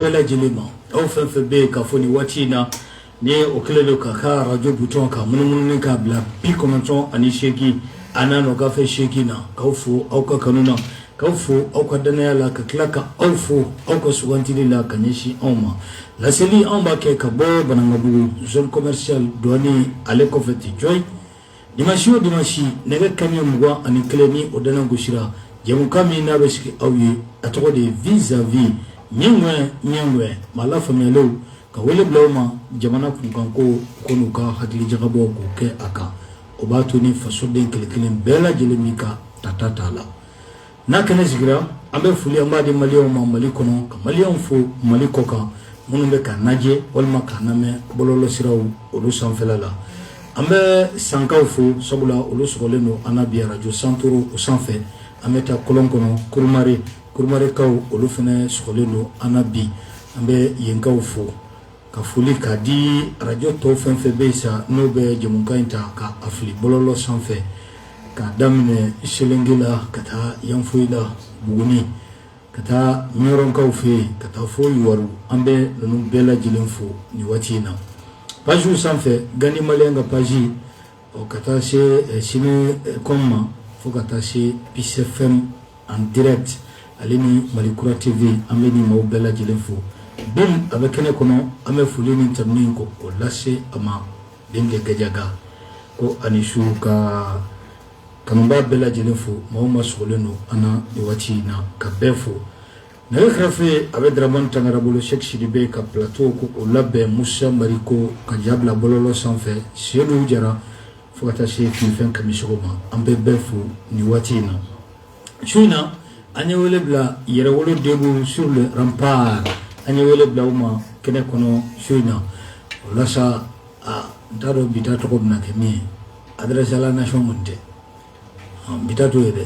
bɛɛ lajɛlen ma aw fɛn fɛn bɛ yen ka fɔ nin waati in na ni o kɛlen don ka ka arajo butɔn ka munumunu k'a bila bi kɔnɔntɔn ani seegin a n'a nɔkanfɛ seegin na k'aw fo aw ka kanu na k'aw fo aw ka dannaya la ka tila ka aw fo aw ka sugantili la ka ɲɛsin anw ma laseli anw b'a kɛ ka bɔ banankabugu zone commercial duwani ale kɔfɛ ti jɔyi Dimanche o dimanche nɛgɛ kanɲɛ mugan ani kelen ni o dana gosira jɛmukan min n'a bɛ sigi aw ye a tɔgɔ de ye vis à vis ɲɛŋɛ ɲɛŋɛ maa lafaamuyalenw ka wele bila u ma jamana kunkanko u ka n'u ka hakilijakabɔ k'o kɛ a kan o b'a to ni fasoden kelen kelen bɛɛ lajɛlen b'i ka tata t'a la N'a kɛnɛ sigira an bɛ foli an b'a di maliyɛnw ma mali kɔnɔ ka maliyɛnw fo mali kɔkan minnu bɛ k'an lajɛ walima k'an lamɛn bɔlɔlɔsiraw olu sanfɛla la an bɛ sankaw fo sabula olu sɔgɔlen don an na bi arajo santoro o sanfɛ an bɛ taa kolon kɔnɔ kurumarikaw olu fana sɔgɔlen don an na bi an bɛ yenkaw fo ka foli ka di arajo tɔw fɛn fɛn bɛ yen sa n'o bɛ jɛmukan in ta ka a fili bɔlɔlɔ sanfɛ ka daminɛ selenge la ka taa yanfolila buguni ka taa ɲɔrɔnkaw fɛ ka taa fo yuwaru an bɛ ninnu bɛɛ lajɛlen fo nin waati in na pagew sanfɛ gandi maliyɛn ka page o ka taa se sini com ma fo ka taa se PC FM en direct ale ni mali kura TV an bɛ nin maaw bɛɛ lajɛlen fo bin a bɛ kɛnɛ kɔnɔ an bɛ foli ni tanuni k'o lase a ma dende gajaga ko ani su ka kanubaa bɛɛ lajɛlen fo maa o maa sɔgɔlen don an na nin waati in na ka bɛɛ fo Nɛgɛ karafe a bɛ daraman tangara bolo sɛki sidibe ka plateau k'o labɛn musa mariko ka ja bila bɔlɔlɔ sanfɛ selu jara fo ka taa se kunfɛn kamisɔgɔ ma an bɛ bɛɛ fo nin waati in na su in na an ye wele bila yɛrɛwolo debout sur les remparts an ye wele bila u ma kɛnɛ kɔnɔ su in na walasa aa n t'a dɔn bi ta tɔgɔ bɛ na kɛ min ye adresse à la nation tɛ n bɛ taa to ye dɛ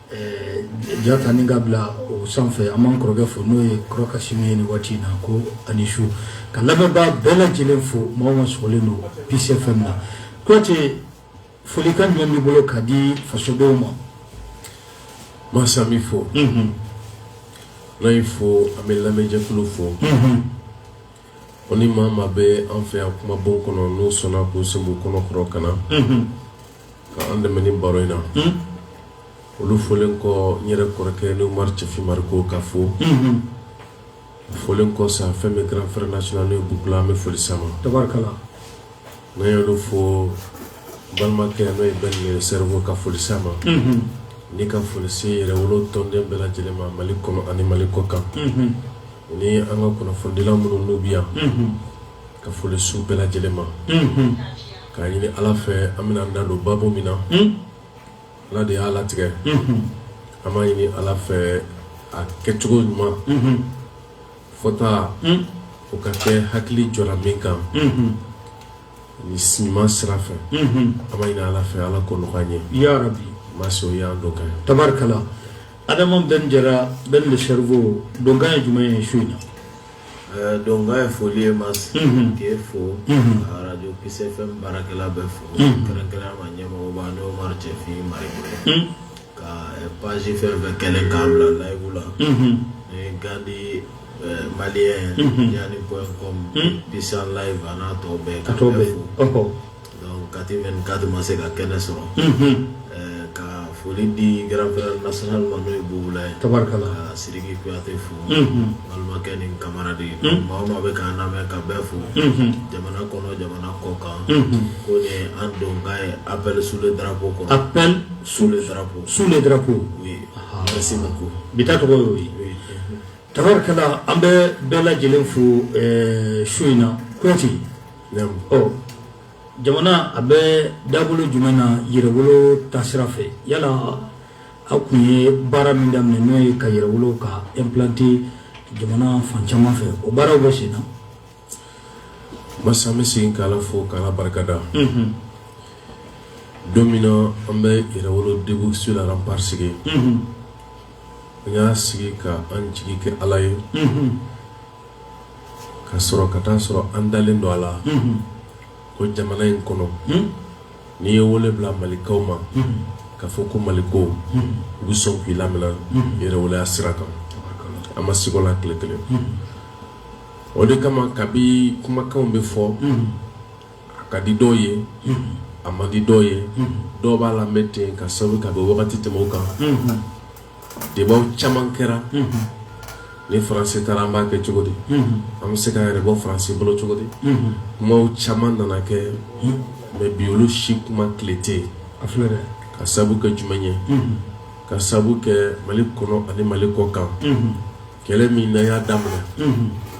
Ja ta ni k'a bila o sanfɛ an b'an kɔrɔkɛ fo n'o ye kɔrɔ kasimu ye nin waati in na ko ani su ka lamɛnbaa bɛɛ lajɛlen fo maa o maa sɔgɔlen don PC FM na kuyate folikan ɲuman b'i bolo ka di fasodenw ma masa min fɔ n fo an bɛ lamɛnjɛkulu fo ko ni maa maa bɛ an fɛ yan kumabon kɔnɔ n'o sɔnna k'u sen b'u kɔnɔ kɔrɔ ka na Ka an dɛmɛ nin baro in na. Un! Olu folen kɔ, n yɛrɛ kɔrɔkɛ n'o ye Umaru Cɛfin Mariko k'a fo. Unhun! O folen kɔ sa, fɛn min ye grand frère national ye Bubu La, an bɛ foli s'a ma. Tabarikala! N'an ye olu fo, n balimakɛ n'o ye Ben le Cerveau ka foli s'a ma. Unhun! Ni ka foli se yɛrɛwolo tɔnden bɛɛ lajɛlen ma Mali kɔnɔ ani Mali kɔkan. Unhun! O ni an ka kunnafonidilaw minnu n'u bɛ yan. Unhun! ka foli s'u bɛɛ lajɛlen ma k'a ɲini ala fɛ an bɛna an da don baro min na ala de y'a latigɛ an b'a ɲini ala fɛ a kɛcogo ɲuman fɔta o ka kɛ hakili jɔra min kan ni siman sira fɛ an b'a ɲini ala fɛ ala k'o nɔgɔya an ye ya rabi mas o y'an donkan tabarikala adama bɛn jara ben le cerveau donkan ye jumɛn ye su in na Ɛɛ donkan ye foli ye Mas, unhun, k'e fo, unhun, ka radio Peace FM baarakɛla bɛɛ fo, unhun, kɛrɛnkɛrɛnnenya la ɲɛmɔgɔba n'o ye Umaru Cɛfin Mariko ye, un, ka page fɛn o fɛn kɛlen ye k'an bila live la, unhun, ni Gandi Malien, unhun, yani point com, un, Bisan live a n'a tɔ bɛɛ, ka bɛɛ fo, ɔhɔ Kati bɛ kadi ma se ka kɛnɛ sɔrɔ ka foli di g nas ma n'o ye bla ye tari ka siriki kuyate fo balimakɛ ni kamara de ye maa maa bɛ ka lamɛn ka bɛɛ fo jamana kɔnɔ jamana kɔ kan ko an dɔn ka ye a bɛ su dabo kɔ a su dabo su dabo u ye se ma ko bi tɔgɔ ye tarikɛla an bɛ bɛɛ lajɛlen fo su in na kuyate jamana a bɛ dabolo jumɛn na yɛrɛwolo ta sira fɛ yala aw tun ye baara min daminɛ n'o ye ka yɛrɛwolo k'a implanter jamana fan caman fɛ o baaraw bɛ sen na mas an bɛ se ka ala fo k'a barikada don min na an bɛ yɛrɛwolo debout sur les remparts sigi an y'a sigi ka an jigi kɛ ala ye k'a sɔrɔ ka t'a sɔrɔ an dalen don a la ko jamana in kɔnɔ n'i ye wele bila malikaw ma k'a fɔ ko maliko u bɛ sɔn k'i laminɛ yɛrɛwoloya sira kan an ma siga o la tile kelen o de kama kabi kumakanw bɛ fɔ a ka di dɔw ye a man di dɔw ye dɔw b'a lamɛn ten k'a sababu ka bɔ wagati tɛmɛ kan débats caman kɛra ni faransi taara an b'a kɛ cogo di an bɛ se k'an yɛrɛ bɔ faransi bolo cogo di kuma caman nana kɛ mais bi olu si kuma tile tɛ yen a filɛ dɛ k'a sabu kɛ jumɛn ye k'a sabu kɛ mali kɔnɔ ani mali kɔ kan kɛlɛ min n'an y'a daminɛ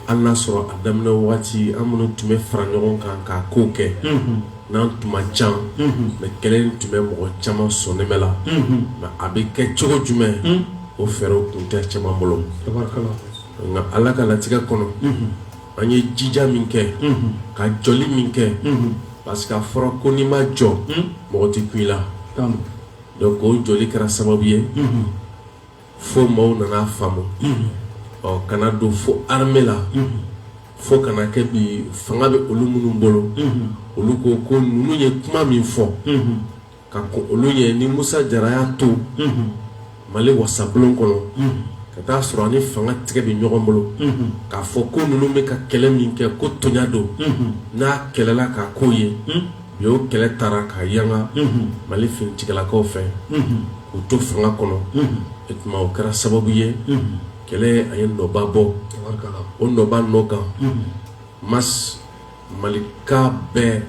an n'a sɔrɔ a daminɛ waati an minnu tun bɛ fara ɲɔgɔn kan k'a kow kɛ n'an tun man ca mais kɛlɛ in tun bɛ mɔgɔ caman sɔnɛmɛ la mais a bɛ kɛ cogo jumɛn o fɛɛrɛw tun tɛ caman bolo nka ala ka latigɛ kɔnɔ an ye jija min kɛ ka jɔli min kɛ parce que a fɔra ko n'i ma jɔ mɔgɔ tɛ kun i la donc o jɔli kɛra sababu ye fo maaw nana faamu ɔ ka na don fo armée la fo ka na kɛ bi fanga bɛ olu minnu bolo olu ko ko ninnu ye kuma min fɔ ka kɔn olu ye ni Musa Jara y'a to Mali wasabulon kɔnɔ ka t'a sɔrɔ a ni fanga tigɛ bɛ ɲɔgɔn bolo k'a fɔ ko ninnu bɛ ka kɛlɛ min kɛ ko toɲa don n'a kɛlɛla k'a ko ye u y'o kɛlɛ taara ka yanga mali finitigilakaw fɛ k'u to fanga kɔnɔ o tuma o kɛra sababu ye kɛlɛ a ye nɔba bɔ o nɔba nɔ kan Mas malika bɛɛ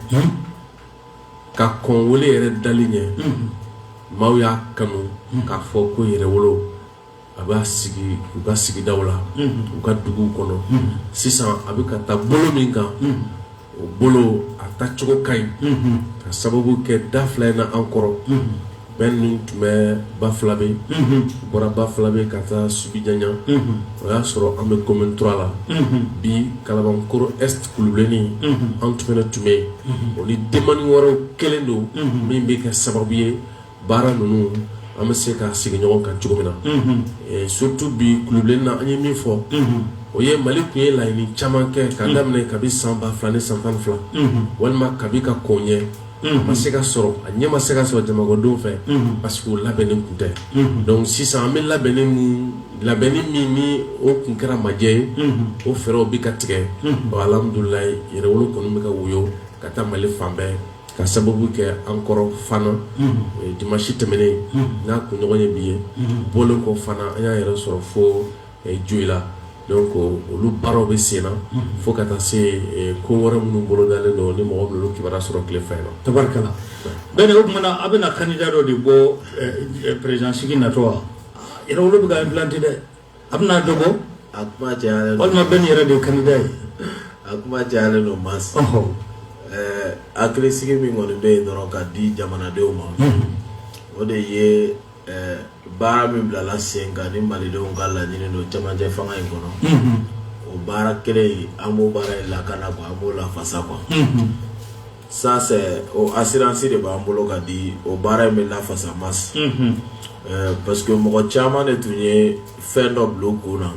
ka kɔn wele yɛrɛ dali ɲɛ maaw y'a kanu k'a fɔ ko yɛrɛwolo a b'a sigi u ka sigidaw la u ka duguw kɔnɔ sisan a bɛ ka taa bolo min kan o bolo a taa cogo ka ɲi ka sababu kɛ da fila in na an kɔrɔ Bɛn ninnu tun bɛ Bafulabɛ bɔra Bafulabɛ ka taa Subijanɲa o y'a sɔrɔ an bɛ commune trois la bi Kalabankɔrɔ est Kulubilenni an tun tun bɛ yen o ni demande wɛrɛw kɛlen don min bɛ kɛ sababu ye baara ninnu an bɛ se ka sigi ɲɔgɔn kan cogo min na surtout bi Kulubilenni na an ye min fɔ o ye mali tun ye laɲini caman kɛ ka daminɛ kabi san ba fila ni san tan fila walima kabi ka kɔn ɲɛ ma se ka sɔrɔ a ɲɛ ma se ka sɔrɔ jamanakɔdenw fɛ parce que labɛnnen tun tɛ donc sisan an bɛ labɛn labɛnni min ni o tun kɛra majɛ ye o fɛɛrɛw bɛ ka tigɛ alhamdulilayi yɛrɛwolo kɔni bɛ ka woyo ka taa mali fan bɛɛ ka sababu kɛ an kɔrɔ Fana dimansi tɛmɛnen n'a kunɲɔgɔn ye bi ye bɔlen kɔ Fana an y'a yɛrɛ sɔrɔ fo Joyila donc olu baaraw bɛ sen na fo ka taa se ko wɛrɛ minnu bolo dalen don ni mɔgɔ bɛna olu kibaru sɔrɔ tile fɛ la tari Bɛn o tuma na a bɛna candidat dɔ de bɔ président sigi natɔ wa yɛrɛwolo bɛ ka implanter dɛ A bɛna dɔ bɔ a kuma cayalen don walima Bɛn yɛrɛ de ye candidat ye a kuma cayalen don Mas ɛɛ hakilisigi min kɔni bɛ yen dɔrɔn ka di jamanadenw ma o de ye ɛɛ baara min bilala sen kan ni malidenw ka laɲini don cɛmancɛ fanga in kɔnɔ o baara kelen in an b'o baara in lakana quoi an b'o lafasa quoi Ça c'est o assurance de b'an bolo ka di o baara in bɛ lafasa Mas parce que mɔgɔ caman de tun ye fɛn dɔ bila u kun na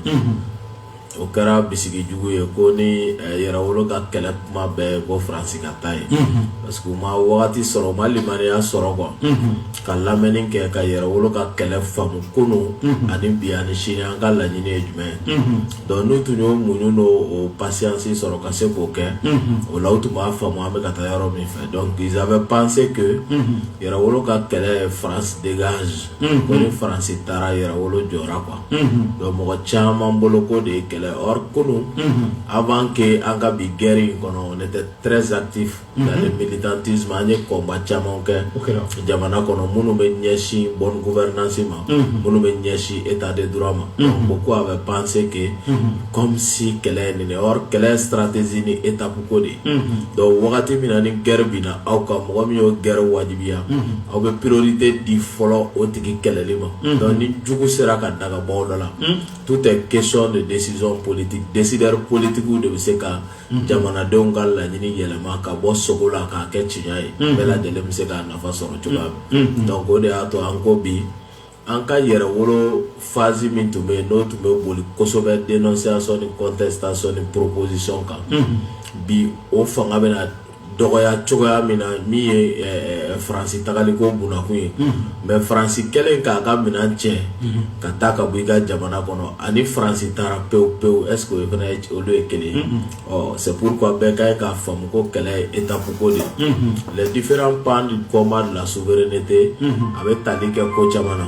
o kɛra bisigi jugu ye ko ni yɛrɛwolo ka kɛlɛ kuma bɛɛ bɔ faransi ka taa ye parce que u ma wagati sɔrɔ u ma limaniya sɔrɔ quoi ka lamɛnni kɛ ka yɛrɛwolo ka kɛlɛ faamu kunun ani bi ani sini an ka laɲini ye jumɛn ye Donc n'u tun y'o muɲu n'o patience sɔrɔ ka se k'o kɛ o la u tun b'a faamu an bɛ ka taa yɔrɔ min fɛ donc ils avaient pensé que yɛrɛwolo ka kɛlɛ France dégage ko ni France taara yɛrɛwolo jɔra quoi donc mɔgɔ caman bolo k'o de ye kɛlɛ or kunun avant que an ka bi guerre in kɔnɔ on était très actif dans le militantisme an ye combat caman kɛ jamana kɔnɔ minnu bɛ ɲɛsin bonne gouvernance ma minnu bɛ ɲɛsin état de droit ma beaucoup avaient pensé que comme si kɛlɛ ye nin ye or kɛlɛ stratégie ni étape ko de ye donc wagati min na ni guerre binna aw kan mɔgɔ min y'o guerre wajibiya aw bɛ priorité di fɔlɔ o tigi kɛlɛli ma donc ni jugu sera ka daga bɔ aw da la tout est question de décision politique décideurs politiques de bɛ se ka jamanadenw ka laɲini yɛlɛma ka bɔ sugo la k'a kɛ tiɲɛ ye bɛɛ lajɛlen bɛ se k'a nafa sɔrɔ cogoya min donc o de y'a to an ko bi an ka yɛrɛwolo phase min tun bɛ yen n'o tun bɛ boli kosɛbɛ dénonciation ni contestation ni proposition kan bi o fanga bɛna dɔgɔya cogoya min na min ye faransi tagali ko bunakun ye mais faransi kɛlen k'a ka minɛn cɛ ka taa ka bɔ i ka jamana kɔnɔ ani faransi taara pewu pewu est-ce que o fana olu ye kelen ye c'est pourquoi bɛɛ ka ye k'a faamu ko kɛlɛ ye étape ko de les différents pans du combat de la souveraineté a bɛ tali kɛ ko caman na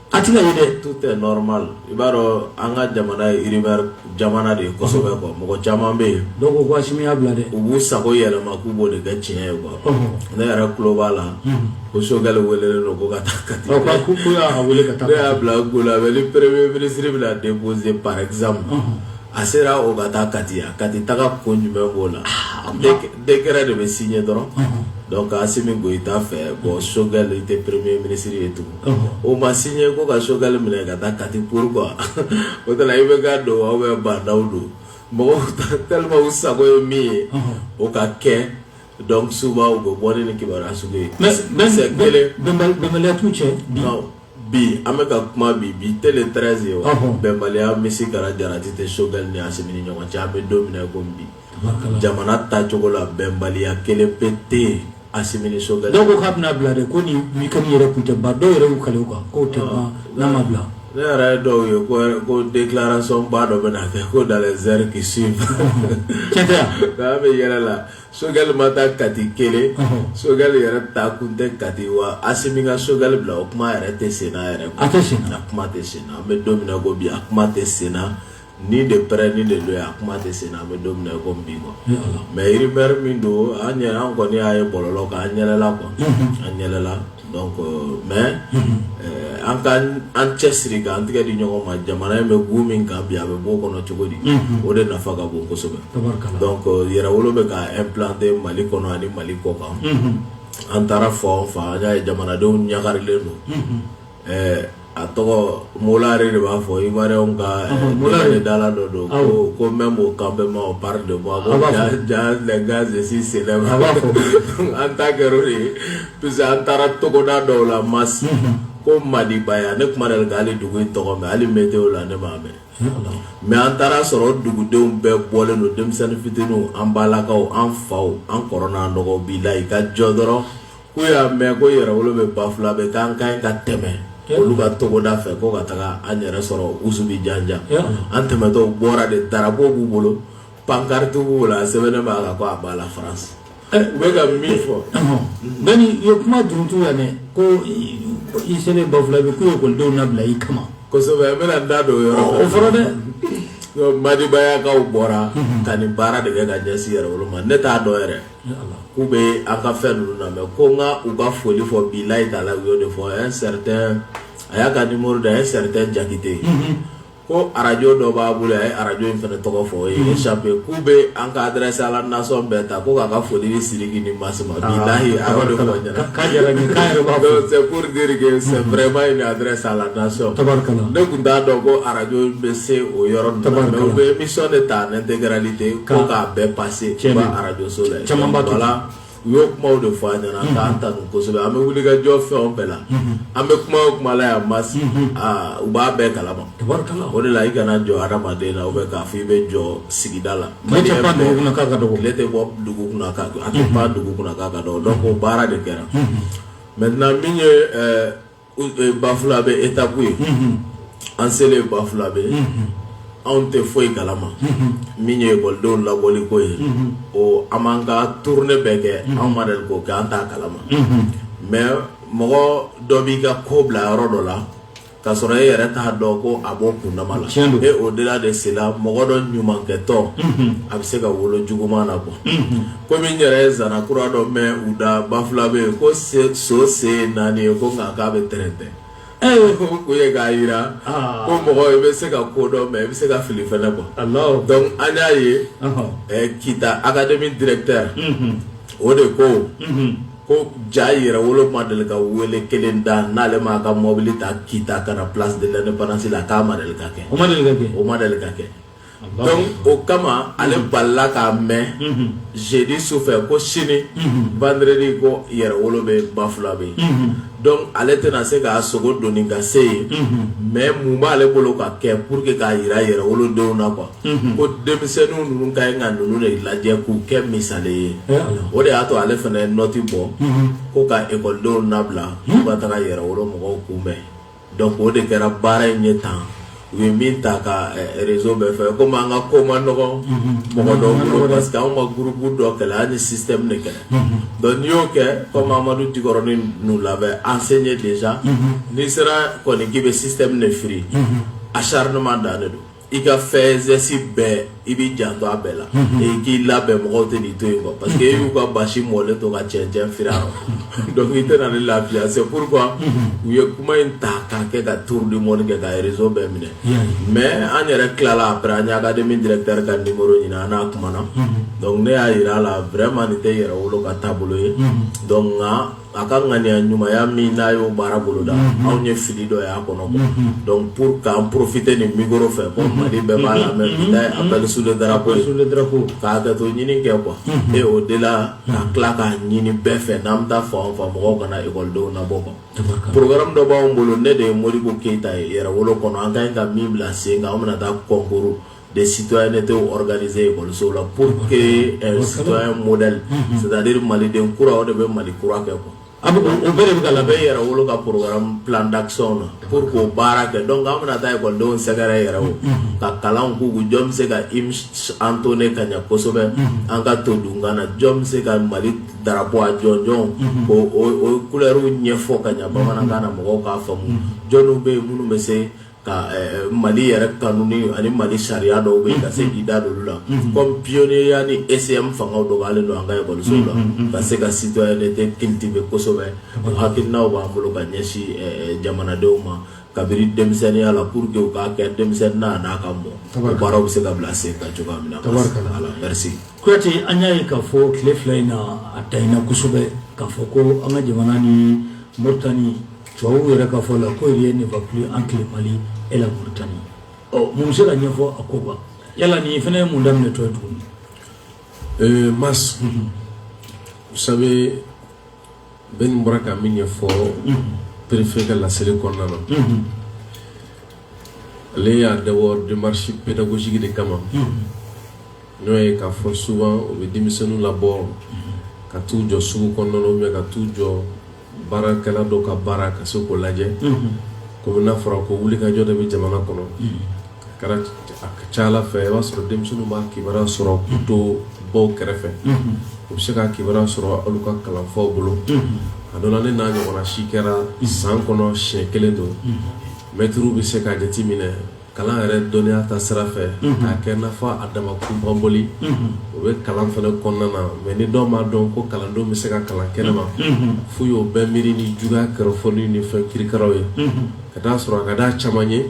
a tɛna ye dɛ tout est normal i b'a dɔn an ka jamana ye rumeur jamana de ye kosɛbɛ quoi mɔgɔ caman bɛ yen dɔw ko ko Asimi y'a bila dɛ u b'u sago yɛlɛma k'u b'o de kɛ tiɲɛ ye quoi ne yɛrɛ tulo b'a la ko Sogɛli welelen don ko ka taa Kati ko ko y'a wele ka taa ne y'a bila ko la ni premier ministre bɛna déposer par exemple a sera o ka taa Kati a Kati taga ko jumɛn b'o la décret de bɛ signer dɔrɔn donc Asimi Goyita fɛ bon Sogɛli tɛ premier ministre ye tugun O ma signé ko ka Sogɛli minɛ ka taa Kati pourquoi o tɛna i bɛ ka don aw bɛ bandaw don mɔgɔw tellement u sago ye min ye o ka kɛ donc souvent u bɛ bɔ ni kibaruya sugu ye bɛnbaliya t'u cɛ bi an bɛ ka kuma bi bi tile 13 ye bɛnbaliya misikara jarati tɛ Sogɛli ni Asimi ni ɲɔgɔn cɛ an bɛ don min na i ko bi jamana tacogo la bɛnbaliya kelen pe tɛ yen Asimi ni Sogɛli dɔw ko k'a bɛna bila dɛ ko nin weekend yɛrɛ kun tɛ ban dɔw yɛrɛ y'u kale o kan k'o tɛ ban n'a ma bila ne yɛrɛ ye dɔw ye ko ko déclaration ba dɔ bɛna kɛ ko dans les heures qui suivent tiɲɛ tɛ wa an bɛ yɛlɛ la Sogɛli ma taa Kati kelen Sogɛli yɛrɛ taa kun tɛ Kati wa Asimi ka Sogɛli bila o kuma yɛrɛ tɛ sen na yɛrɛ a tɛ sen na a kuma tɛ sen na an bɛ don min na ko bi a kuma tɛ sen na Ni de près ni de loin a kuma tɛ sen na an bɛ don min na ko bi quoi mais rumeur min don an kɔni y'a ye bɔlɔlɔ kan an yɛlɛla quoi an yɛlɛla donc mais an ka an cɛ siri ka an tɛgɛ di ɲɔgɔn ma jamana in bɛ gu min kan bi a bɛ bɔ o kɔnɔ cogo di o de nafa ka bon kosɛbɛ donc Yɛrɛwolo bɛ ka implanter Mali kɔnɔ ani Mali kɔ kan an taara fan o fan an y'a ye jamanadenw ɲagarilen don a tɔgɔ Molare de b'a fɔ Ivoirien ka dala dɔ don ko même au campement on parle de moi donc sisan an ta kɛra o de ye puisque an taara togoda dɔw la Mas ko Madibaya ne kun ma deli k'ale dugu in tɔgɔ mɛn hali météo la ne m'a mɛn mais an taara sɔrɔ dugudenw bɛɛ bɔlen don denmisɛnnin fitininw an balakaw an faw an kɔrɔw n'an dɔgɔw bilayi i ka jɔ dɔrɔn K'u y'a mɛn ko Yɛrɛwolo bɛ Bafulabɛ k'an ka kan ka tɛmɛ olu ka togoda fɛ ko ka taga an yɛrɛ sɔrɔ Usubijanjan an tɛmɛtɔ bɔra de drapeau b'u bolo pankariti b'u bolo a sɛbɛnnen b'a la ko à bas la France u bɛ ka min fɔ mɛ i ye kuma duurutu la dɛ ko i selen Bafulabɛ k'u ye ekɔlidenw labila i kama kosɛbɛ n bɛna n da don o yɔrɔ o fɔra dɛ Madibayakaw bɔra ka nin baara de kɛ ka ɲɛsin Yɛrɛwolo ma ne t'a dɔn yɛrɛ K'u bɛ an ka fɛn ninnu na ko n ka u ka foli fɔ bilayi taala u y'o de fɔ un certain a y'a ka numéro di a ye certain Jakite ye ko arajo dɔ b'a bolo a ye arajo in fana tɔgɔ fɔ ye sabu k'u bɛ an ka adresse à la nation bɛɛ ta ko k'a ka foli ni Sidiki ni Mas ma bilayi b'a fɔ c'est vraiment une adresse à la nation ne tun t'a dɔn ko arajo bɛ se o yɔrɔ ninnu na u bɛ émission de ta en intégralité ko k'a bɛɛ pa arajoso la camanba to la u y'o kuma de fɔ an ɲɛna k'an tanu kosɛbɛ an bɛ wuli ka jɔ fɛn bɛɛ la an bɛ kuma o kuma la yan Mas u b'a bɛɛ kalama o de la i kana jɔ adamaden na ou bien k'a fɔ i bɛ jɔ sigida la tile tɛ bɔ dugu kunna k'a a tɛ pan dugu kunna k'a ka dɔgɔ donc o baara de kɛra maintenant min ye Bafulabe étape ye an selen Bafulabe anw tɛ foyi kalama min ye ekɔlidenw labɔli ko ye an b'an ka tournée bɛɛ kɛ anw ma deli k'o kɛ an t'a kalama mais mɔgɔ dɔ b'i ka ko bila yɔrɔ dɔ la k'a sɔrɔ e yɛrɛ t'a dɔn ko a b'o kundama la et au-delà de cela mɔgɔ dɔ ɲumankɛtɔ a bɛ se ka wolo juguman na bɔ komi n yɛrɛ ye zana kura dɔ mɛn u da Bafulabe yen ko so sen ye naani ye ko nka k'a bɛ tɛrɛntɛ k'o ye k'a jira ko mɔgɔ i bɛ se ka ko dɔn mais i bɛ se ka fili fɛnɛ quoi donc an y'a ye kita académie directeur o de ko ko ja yɛrɛ wolo ma deli ka wele kelen da n'ale m'a ka mɔbili ta kita ka na place de l'indépendance la k'a ma deli ka kɛ o ma deli ka kɛ donc o kama ale balila k'a mɛn jeudi su fɛ ko sini vendredi ko yɛrɛ wolo bɛ Bafulabe yen donc ale tɛna se k'a sogo doni ka se yen mais mun b'ale bolo ka kɛ pour que k'a yira yɛrɛ wolodenw na quoi ko denmisɛnninw ninnu ka ɲi ka ninnu de lajɛ k'u kɛ misali ye o de y'a to ale fana ye nɔti bɔ ko ka ekɔlidenw nabila k'u ka taga yɛrɛ wolo mɔgɔw kunbɛn donc o de kɛra baara in ye tan u ye min ta ka réseau bɛɛ fɛ komi an ka ko ma nɔgɔn mɔgɔ dɔw bolo parce que anw ma groupe dɔ kɛlɛ an ni système de kɛlɛ donc n'i y'o kɛ komi amadu dikɔrɔni nous l'avait enseigné déjà n'i sera kɔni k'i bɛ système de firi acharnement dan de don i ka faits et gestes bɛɛ i b'i janto a bɛɛ la k'i labɛn mɔgɔw tɛn'i to yen quoi parce que e y'u ka basi mɔlen to ka cɛncɛn firi a rɔ donc i tɛna ni lafiya c'est pourquoi u ye kuma in ta k'a kɛ ka tour du monde kɛ ka réseau bɛɛ minɛ mais an yɛrɛ tilala après an ye académie directeur ka numéro ɲini an n'a kumana donc ne y'a yira a la vraiment nin tɛ yɛrɛ wolo ka taabolo ye donc nka a ka ŋaniya ɲumanya min n'a y'o baara boloda mhm. anw ye fili dɔ y'a kɔnɔ quoi mhm. donc pour k'an profiter nin micro fɛ ko mhm. mali bɛɛ b'a lamɛn bi n'a ye appel sous le drapeau sous le drapeau k'a hakɛto ɲini kɛ quoi et au delà ka tila k'a ɲini bɛɛ fɛ n'an bɛ taa fan o fan mɔgɔw kana ekɔlidenw nabɔ quoi programme dɔ b'anw bolo ne de ye modibo keyita ye yɛrɛwolo kɔnɔ an ka ɲi ka min bila sen kan an bɛna taa concours de citoyenneté organiser ekɔliso la pour que citoyen modèle c'est-à-dire maliden kura o de bɛ mali kura kɛ quoi o bɛɛ de bɛ ka labɛn e yɛrɛ wolo ka plan d'action na pour k'o baara kɛ donc an bɛna taa ekɔlidenw sɛgɛrɛ yɛrɛ o ka kalan k'u jɔn bɛ se ka hymne entonner ka ɲɛ kosɛbɛ an ka to dun kana na jɔn bɛ se ka mali drapeau a jɔnjɔn k'o couleur ɲɛfɔ ka ɲɛ bamanankan na mɔgɔw k'a faamu jɔnw bɛ yen minnu bɛ se ka mali yɛrɛ kanu ani mali sariya dɔw bɛ yen ka se k'i da olu la comme pionnier ni ECM fanga dɔgɔyalen don an ka ekɔlisow la ka se ka citoyenneté cultiver kosɛbɛ o hakilinaw b'an bolo ka ɲɛsin jamanadenw ma kabini denmisɛnninya la pour que k'a kɛ denmisɛnninya n'a ka mɔ o baaraw bɛ se ka bila sen kan cogoya min na kuyate an y'a ye k'a fɔ tile fila in na a tayina kosɛbɛ k'a fɔ ko an ka jamana ni moritani tubabuw yɛrɛ ka fɔ la ko rien ne va plus entre le mali et la mauritanie ɔ mun bɛ se ka ɲɛfɔ a ko kan yala nin fana ye mun daminɛ tɔ ye tuguni euh, mas mhm. vous savez Ben bɔra ka min ɲɛfɔ mhm. préfet ka laseli kɔnɔna na mhm. ale y'a dabɔ démarche pédagogique de kama N'o ye k'a fɔ souvent u bɛ denmisɛnninw labɔ ka t'u jɔ sugu kɔnɔna na ou bien ka t'u jɔ baarakɛla dɔ ka baara ka se k'o lajɛ komi n'a fɔra ko wulikajɔ de bɛ jamana kɔnɔ a ka ca ala fɛ i b'a sɔrɔ denmisɛnninw b'a kibaruya sɔrɔ k'u to baw kɛrɛfɛ u bɛ se ka kibaruya sɔrɔ olu ka kalanfaw bolo a dɔ la ne n'a ɲɔgɔnna si kɛra san kɔnɔ siɲɛ kelen don mɛtiri bɛ se ka jate minɛ kalan yɛrɛ dɔnniya ta sira fɛ k'a kɛ n'a fɔ a dama kunpanbɔli o bɛ kalan fana kɔnɔna na mais ni dɔw m'a dɔn ko kalandenw bɛ se ka kalan kɛnɛma f'u y'o bɛɛ miiri ni juguya kɔrɔfɔli ni fɛn kirikaraw ye ka t'a sɔrɔ a ka d'a caman ye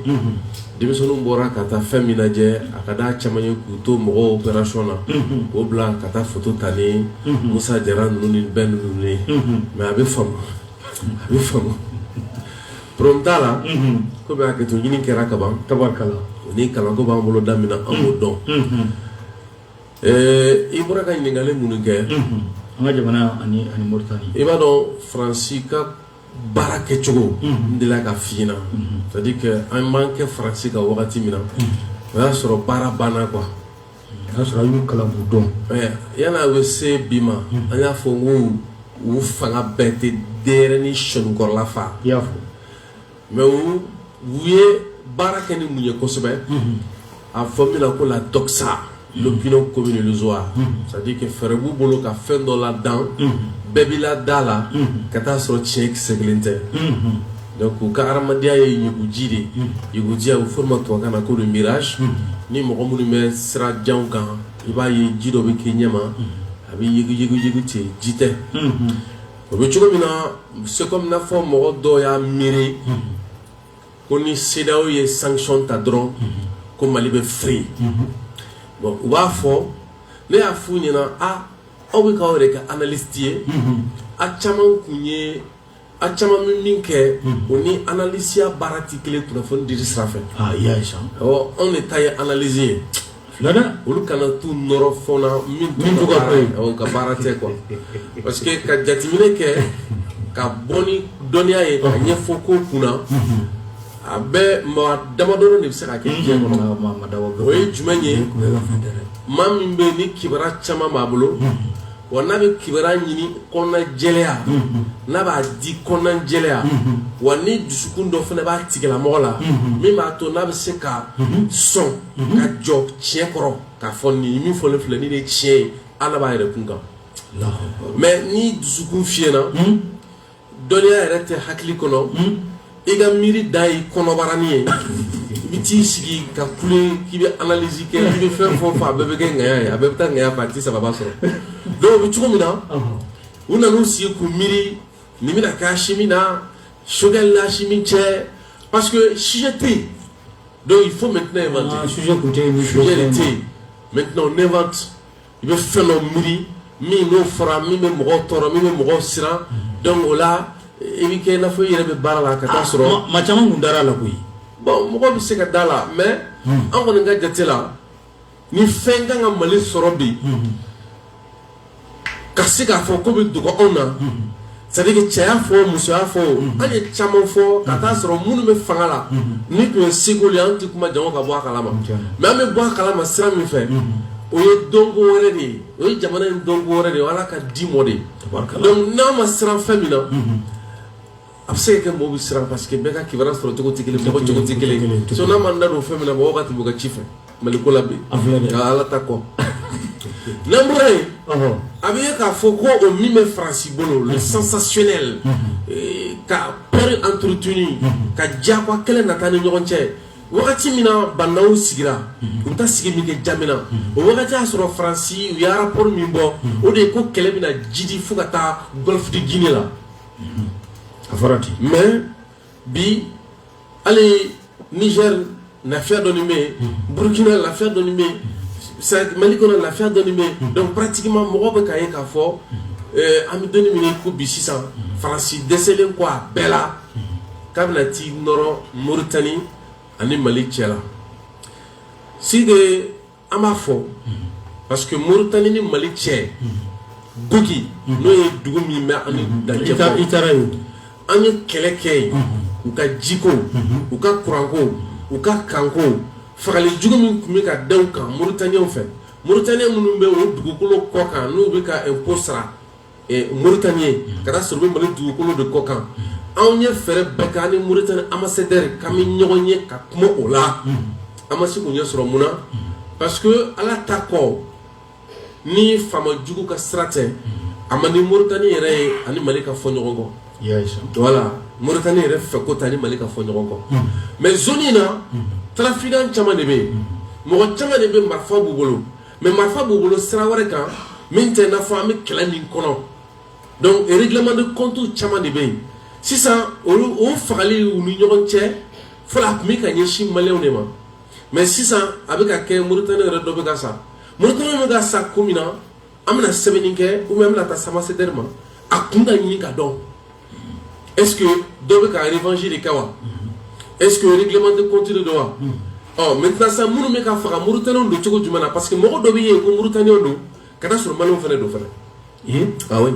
denmisɛnninw bɔra ka taa fɛn min lajɛ a ka d'a caman ye k'u to mɔgɔw opération na k'o bila ka taa foto ta ni Musa Jara ninnu ni bɛɛ ninnu ye mais a bɛ faamu a bɛ faamu problème t'a la komi hakɛto ɲini kɛra kaban tabarikala o ni kalanko b'an bolo da min na an b'o dɔn i bɔra ka ɲininkali minnu kɛ an ka jamana ani ani moritani i b'a dɔn faransi ka baara kɛcogo n delila k'a f'i ɲɛna c'est à dire que an b'an kɛ faransi ka wagati min na o y'a sɔrɔ baara banna quoi O y'a sɔrɔ a y'u kalan k'u dɔn yanni a bɛ se bi ma an y'a fɔ ko u fanga bɛɛ tɛ denyɛrɛnin sɔninkɔrɔla fa i y'a fɔ mais u ye baara kɛ ni mun ye kosɛbɛ a fɔ min na ko la doxa l'opinion commune illusoire c'est à dire que fɛɛrɛ b'u bolo ka fɛn dɔ ladan bɛɛ bɛ la da la ka t'a sɔrɔ tiɲɛ kisɛ kelen tɛ Donc u ka hadamadenya ye ɲuguji de ye, unhun, ɲuguji a bɛ fɔ o de ma tubabukan na ko le mirage unhun, ni mɔgɔ minnu bɛ sira janw kan i b'a ye ji dɔ bɛ k'i ɲɛma a bɛ yuguyugu ten ji tɛ, unhun, o bɛ cogo min na c'est comme i n'a fɔ mɔgɔ dɔw y'a miiri ko ni CEDEAO ye sanction ta dɔrɔn ko Mali bɛ firi, unhun, bon u b'a fɔ ne y'a f'u ɲɛna a aw bɛ k'aw yɛrɛ kɛ analystes ye, unhun, a caman tun ye a caman bɛ min kɛ o ni analisiya baara tɛ kelen kunnafoni dili sira fɛ anw de ta ye analyse ye olu kana t'u nɔrɔ fɛn na min ka baara tɛ quoi parce que ka jateminɛ kɛ ka bɔ ni dɔnniya ye ka ɲɛfɔ ko kunna a bɛ maa damadɔ de bɛ se ka kɛ diɲɛ kɔnɔ o ye jumɛn ye maa min bɛ ni kibaruya caman b'a bolo wa n'a bɛ kibaruya ɲini kɔnɔna jɛlenya n'a b'a di kɔnɔna jɛlenya wa ni dusukun dɔ fana b'a tigilamɔgɔ la min b'a to n'a bɛ se ka sɔn ka jɔ tiɲɛ kɔrɔ k'a fɔ nin min fɔlen filɛ nin de tiɲɛ ye hal'a b'a yɛrɛ kun kan mais ni dusukun fiyenna dɔnniya yɛrɛ tɛ hakili kɔnɔ hmm? i ka miiri dan ye kɔnɔbaranin ye i bɛ t'i sigi ka kule k'i bɛ analyse kɛ i bɛ fɛn fɔ fɔ a bɛɛ bɛ kɛ ŋɛya ye a bɛɛ bɛ taa ŋɛya fɛ a tɛ sababa sɔrɔ donc o bɛ cogo min na u nan'u sigi k'u miiri nin bɛna kɛ Assimi na Choguel la Assimi cɛ parce que sujet tɛ yen donc il faut maintenant inventer ah, sujet tun tɛ yen sujet de tɛ yen maintenant on invente i bɛ fɛn dɔ miiri min n'o fɔra min bɛ mɔgɔw tɔɔrɔ min bɛ mɔgɔw siran donc o la i bɛ kɛ i n'a fɔ i yɛrɛ bɛ baara la ka taa sɔrɔ ah, maa caman tun dara a la koyi bon mɔgɔ bɛ se ka d'a la mais hmm. an kɔni ka jate la ni fɛn kan ka Mali sɔrɔ bi hmm. ka se k'a fɔ k'o bɛ dogo anw na. Hmm. c'est à dire cɛ y'a fɔ muso y'a fɔ an ye caman fɔ ka taa sɔrɔ minnu bɛ fanga la ni tun ye seko ye an tɛ kuma janko ka bɔ a kalama mais an bɛ bɔ a kalama sira min fɛ o ye dɔnko wɛrɛ de ye o ye jamana in dɔnko wɛrɛ de ye ala ka di mɔ de ye n'a ma siran fɛn min na a bɛ se ka kɛ mɔgɔw bɛ siran parce que bɛɛ ka kibaruya sɔrɔ cogo tɛ kelen mɔgɔ cogo tɛ kelen so n'a ma da don fɛn min na mɔgɔw ka tɛmɛ u ka ci fɛ Mali ko la bi a filɛ dɛ nka Ala ta kɔ n'an bɔra yen ɔhɔ a bɛ ye k'a fɔ ko o min bɛ Faransi bolo le sensationnel eh, ka peur entretenu ka diyagoya kɛlɛ nata ni ɲɔgɔn cɛ wagati min na bandaw sigira u bɛ taa sigi min kɛ Jamena o wagati y'a sɔrɔ Faransi u ye rapport min bɔ o de ye ko kɛlɛ bɛna jidi fo ka taa Golfe de Guinée la a fɔra ten mais bi hali niger lafiya dɔɔni bɛ yen hmm. burkina lafiya dɔɔni bɛ yen mali kɔnɔ lafiya dɔɔni bɛ yen hmm. donc pratiquement mɔgɔw bɛ k'a ye k'a fɔ eh, an bɛ don min na i ko bi sisan hmm. faransi dɛsɛlen kɔ a bɛɛ la k'a bɛna t'i nɔrɔ moritani ani mali cɛ la si de an b'a fɔ parce que moritani ni mali cɛ Gogui n'o ye dugu min bɛ an dancɛ i taara yen an ye kɛlɛ kɛ yen u ka jiko u ka kuranko u ka kanko fagali jugu min tun bɛ ka da u kan mauritaniens fɛ mauritaniens minnu bɛ o dugukolo kɔ kan n'u bɛ ka impôt sara moritaniyɛnw ka taa sɔrɔ u bɛ mali dugukolo de kɔ kan anw ye fɛɛrɛ bɛɛ kɛ ni moritani ambassadeur k'an bɛ ɲɔgɔn ye ka kuma o la an ma se k'o ɲɛ sɔrɔ mun na parce que ala ta kɔ ni faama jugu ka sira tɛ a man di moritani yɛrɛ ye a ni mali ka fɔ ɲɔgɔn kɔ voilà moritani yɛrɛ fɛ ko t'a ni mali ka fɔ ɲɔgɔn kɔ mais zone in na trafiquant caman de bɛ yen mɔgɔ caman de bɛ marifa b'u bolo mais marifa b'u bolo sira wɛrɛ kan min tɛ n'a fɔ an bɛ kɛlɛ min kɔnɔ donc règlement de compte caman de bɛ yen sisan o fagali u ni ɲɔgɔn cɛ fɔlɔ a tun bɛ ka ɲɛsin maliyɛnw de ma mais sisan a bɛ ka kɛ moritaniyɛn yɛrɛ dɔ bɛ ka sa moritani bɛ ka sa ko min na an bɛna sɛbɛnni kɛ ou bien an bɛna taa se ambassadeur ma a kun ka ɲini ka dɔn est-ce que dɔ bɛ ka revanche de kɛ wa mm-hmm. est-ce que règlement de compte de don wa mm-hmm. ɔ maintenant sisan minnu bɛ ka faga Mauritaniens don cogo jumɛn na parce que mɔgɔ dɔ bɛ yen ko Mauritaniens don ka taa sɔrɔ Maliens fana don fana ee awɔ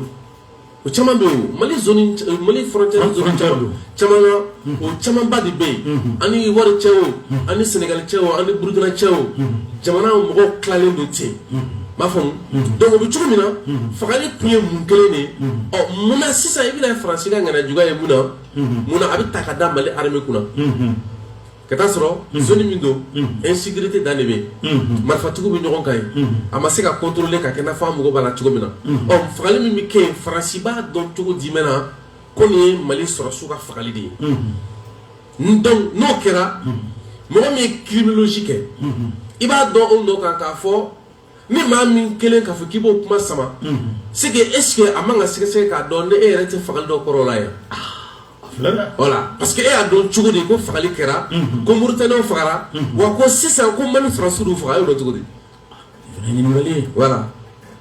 o caman bɛ yen o Mali zone Mali frontière zone caman caman na o camanba de bɛ yen an ni wari cɛ o an ni sɛnɛgali cɛ o an ni burukina cɛ o jamana mɔgɔw tilalen don ten i b'a faamu donc o bɛ cogo min na fagali tun ye mun kelen de ye munna sisan i bɛna faransi ka ŋaniya juguya ye munna a b'a ta ka da mali armée kunna ka taa sɔrɔ zone min don insécurité dan de bɛ yen marifatigiw bɛ ɲɔgɔn kan yen a ma se ka contrôler ka kɛ i n'a fɔ an mago b'a la cogo min na ɔ fagali min bɛ kɛ yen faransi b'a dɔn cogo jumɛn na ko nin ye mali sɔrɔsiw ka fagali de ye donc n'o kɛra mɔgɔ min ye criminologie kɛ i b'a dɔn o nɔ kan k'a fɔ ni maa min kelen k'a fɔ k'i b'o kuma sama c'est que est ce que a man ka sɛgɛsɛgɛ k'a dɔn ni e yɛrɛ tɛ fagali dɔ kɔrɔ la yan voilà parce que e y'a dɔn cogo di ko fagali kɛra ko moritaniyɛnw fagara wa ko sisan ko mali sɔrɔsiw de y'u faga e y'o dɔn cogo di Voilà.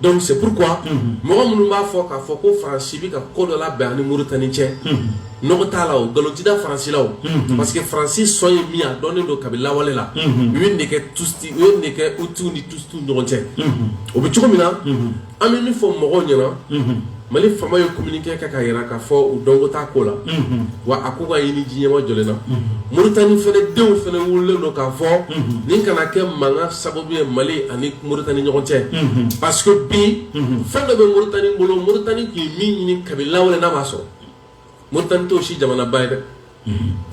Donc c'est pourquoi mɔgɔ minnu b'a fɔ k'a fɔ ko Faransi bɛ ka ko dɔ labɛn an ni Moritani cɛ nɔgɔ t'a la o nkalon tɛ da Faransi la o parce que Faransi sɔn ye min ye a dɔnnen don kabi lawale la u ye nin de kɛ Tutsi u ye nin de kɛ Hutu ni Tutsi ni ɲɔgɔn cɛ o bɛ cogo min na an bɛ min fɔ mɔgɔw ɲɛna mali faama ye communiqué kɛ k'a yira k'a fɔ u dɔnko t'a ko la wa a k'u k'a ɲini diɲɛ ma jɔlen na moritani fana denw fana wulilen don k'a fɔ nin kana kɛ mankan sababu ye mali ani moritani ɲɔgɔn cɛ parce que bi fɛn dɔ bɛ moritani bolo moritani tun ye min ɲini kabi lawale n'a m'a sɔrɔ Moritani t'o si jamana ba ye dɛ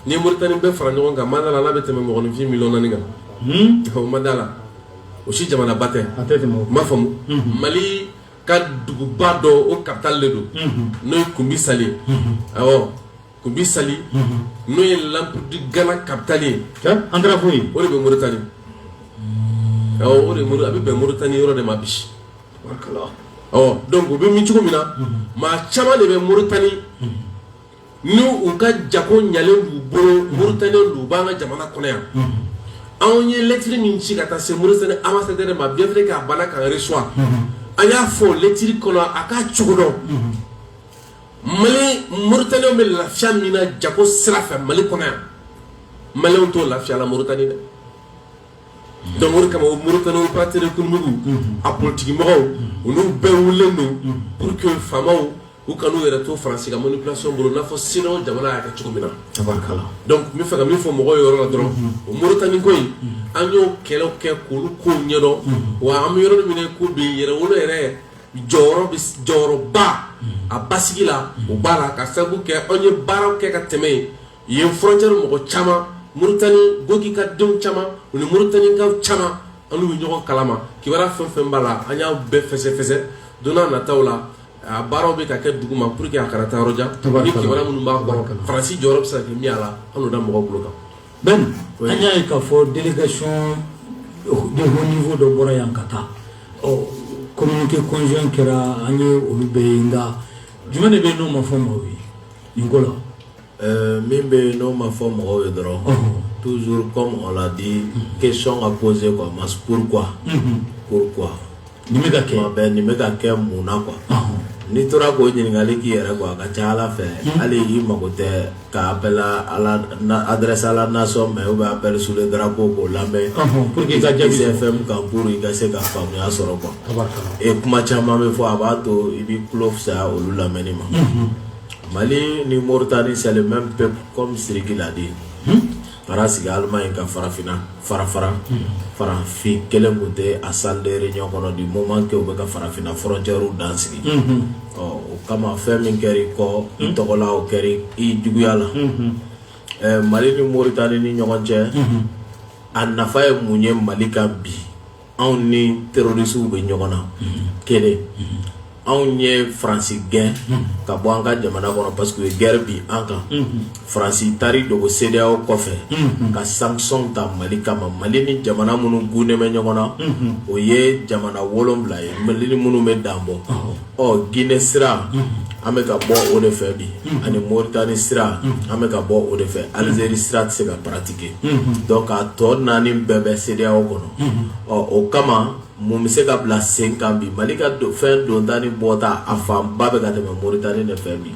ni moritani bɛɛ fara ɲɔgɔn kan n ma da a la n'a bɛ tɛmɛ mɔgɔninfin miliyɔn naani kan n ma da a la o si jamana ba tɛ m'a faamu mali ka duguba dɔ o capitale de don n'o ye kunbi sali ye awɔ kunbi sali n'o ye l'empire du ghana capitale ye an taara fo yen o de bɛ moritani awɔ a bɛ bɛn moritani yɔrɔ de ma bi dɔnku o bɛ min cogo min na maa caman de bɛ moritani n' u ka jako ɲalen b'u bolo moritaniw u b'an ka jamana kɔnɔ yan anw ye lɛtiri min ci ka taa se moritani ambassadeur ma bien vrai k'a banna k'an reçoit an y'a fɔ lɛtiri kɔnɔ a k'a cogo dɔn mali moritaniw bɛ lafiya min na jako sira fɛ mali kɔnɔ yan maliɛnw t'o lafiya la moritani dɛ dɔnku o kama moritani opérateurs économiques a politikimɔgɔw olu bɛɛ wulilen don pour que faamaw u kana u yɛrɛ to faransi ka manipulation bolo n'a fɔ cedeao jamana y'a kɛ cogo min na dɔnku n bɛ fɛ ka min fɔ mɔgɔw ye yɔrɔ la dɔrɔn o moritani ko in an y'o kɛlɛ kɛ k'olu ko ɲɛdɔn wa an bɛ yɔrɔ min ko bi yɛrɛwolo yɛrɛ jɔyɔrɔba a basigi la u b'a la ka sabu kɛ anw ye baaraw kɛ ka tɛmɛ ye Yen frontière mɔgɔ caman moritani gogi ka denw caman u ni moritanikaw caman an n'u bɛ ɲɔgɔn kalama kibaruya fɛn fɛn b'a la an y'a bɛɛ fɛsɛfɛsɛ don nataw la a baaraw bɛ ka kɛ duguma pour que a kana taa yɔrɔjan kibaruya minnu b'a bɔ kan faransi jɔyɔrɔ bɛ se ka kɛ min y'a la an n'o da mɔgɔw bolo kan ben an y'a ye k'a fɔ délégation de haut niveau dɔ bɔra yan ka taa ɔ communiqué conjoint kɛra an ye olu bɛɛ ye nka jumɛn de bɛ yen n'o ma fɔ maaw ye nin ko la min bɛ yen n'o ma fɔ mɔgɔw ye dɔrɔn tuzuru kɔ mɔgɔ la di ke sɔn ka kose a ma pkura pkura nin bɛ ka ke bɛɛ nin bɛ ka kɛ mun na qu n'i tora k'o ɲininkakali k'i yɛrɛ a ka ca ala fɛ hali y'i mago tɛ k'a bɛ adresa la nasɔn mɛ o bɛ bɛɛ su dara ko k'o lamɛn p que ka jase fɛn ka g i ka se ka faamuyaya sɔrɔ kuwa e kuma caman bɛ fɔ a b'a to i bɛ tulo fisaya olu lamɛnni ma Mali ni moritani c'est le même peuple comme siriki l'a dit taara sigi alimaɲi ka farafinna farafara farafin kelen tun tɛ a salle de réunion kɔnɔ du moment que u bɛ ka farafinna frontièrew dan sigi ɔ o kama fɛn min kɛra i kɔ i tɔgɔla o kɛra i juguya la ɛ mali ni moritani ni ɲɔgɔn cɛ a nafa ye mun ye mali kan bi anw ni terrorisiw bɛ ɲɔgɔn na kelen anw ye faransi gɛn ka bɔ an ka jamana kɔnɔ parce que gɛrɛ bi an kan faransi taari dogo cedeao kɔfɛ ka sanction ta mali kama mali ni jamana minnu tugunnen bɛ ɲɔgɔn na o ye jamana wolonwula ye mali ni minnu bɛ dan bɔ ɔ gine sira an bɛ ka bɔ o de fɛ bi ani moritani sira an bɛ ka bɔ o de fɛ alizeri sira tɛ se ka paratike dɔnku a tɔ naani bɛɛ bɛ cedeao kɔnɔ ɔ o kama mun bɛ se ka bila sen kan bi mali ka fɛn donta ni bɔta a fanba bɛ ka tɛmɛ moritani de fɛ bi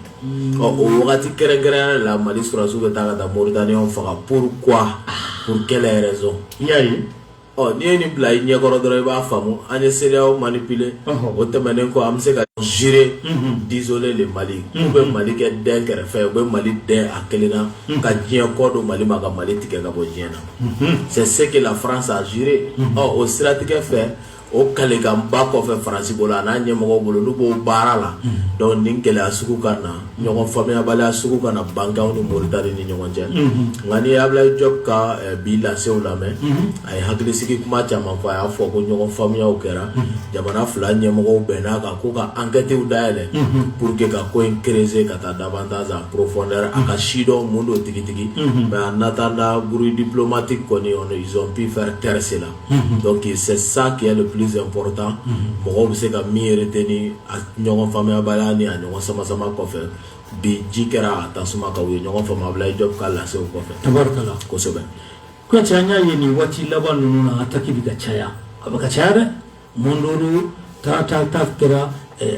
ɔ o wagati kɛrɛnkɛrɛnya la mali sɔrɔsiw bɛ taa ka taa moritaniw faga pourquoi pour quelle raison i y'a ye ɔ n'i ye nin bila i ɲɛkɔrɔ dɔrɔn i b'a faamu an ye CEDEAO manipuler o tɛmɛnen kɔ an bɛ se ka jurer d'isoler le Mali u bɛ mali kɛ dɛn kɛrɛfɛ u bɛ mali dɛn a kelen na ka diɲɛ kɔ don mali ma ka mali tigɛ ka bɔ diɲɛ na c'est ce que la France a juré ɔ o siratigɛ fɛ o kalikanba kɔfɛ faransi bolo a n'a ɲɛmɔgɔw bolo n'u b'o baara la donc nin gɛlɛya sugu ka na ɲɔgɔn faamuyabaliya sugu ka na bange anw ni Moritani ni ɲɔgɔn cɛ nka n'i ye Abulayi Jɔpu ka bi lasew lamɛn a ye hakilisigi kuma caman fɔ a y'a fɔ ko ɲɔgɔn faamuyaw kɛra jamana fila ɲɛmɔgɔw bɛnn'a kan ko ka ankɛtiw dayɛlɛ pour que ka ko in creuser ka taa davantage en profondeur a ka sidɔn mun don tigitigi mais en attendant bruit diplomatique kɔni ɔn ils ont pu faire taire cela donc c'est ça qui est le plus important mɔgɔ bɛ se ka min retenir ɲɔgɔn faamuyabaliya ni a ɲɔgɔn sama sama kɔfɛ bi ji kɛra a ta tasuma kan u ye ɲɔgɔn faamu Abulayi Jɔpu ka lase kɔfɛ tabarikala kosɛbɛ Kuyate an y'a ye nin waati laban ninnu na ataki bɛ ka caya a bɛ ka caya dɛ Mɔndɔrɔ ta kɛra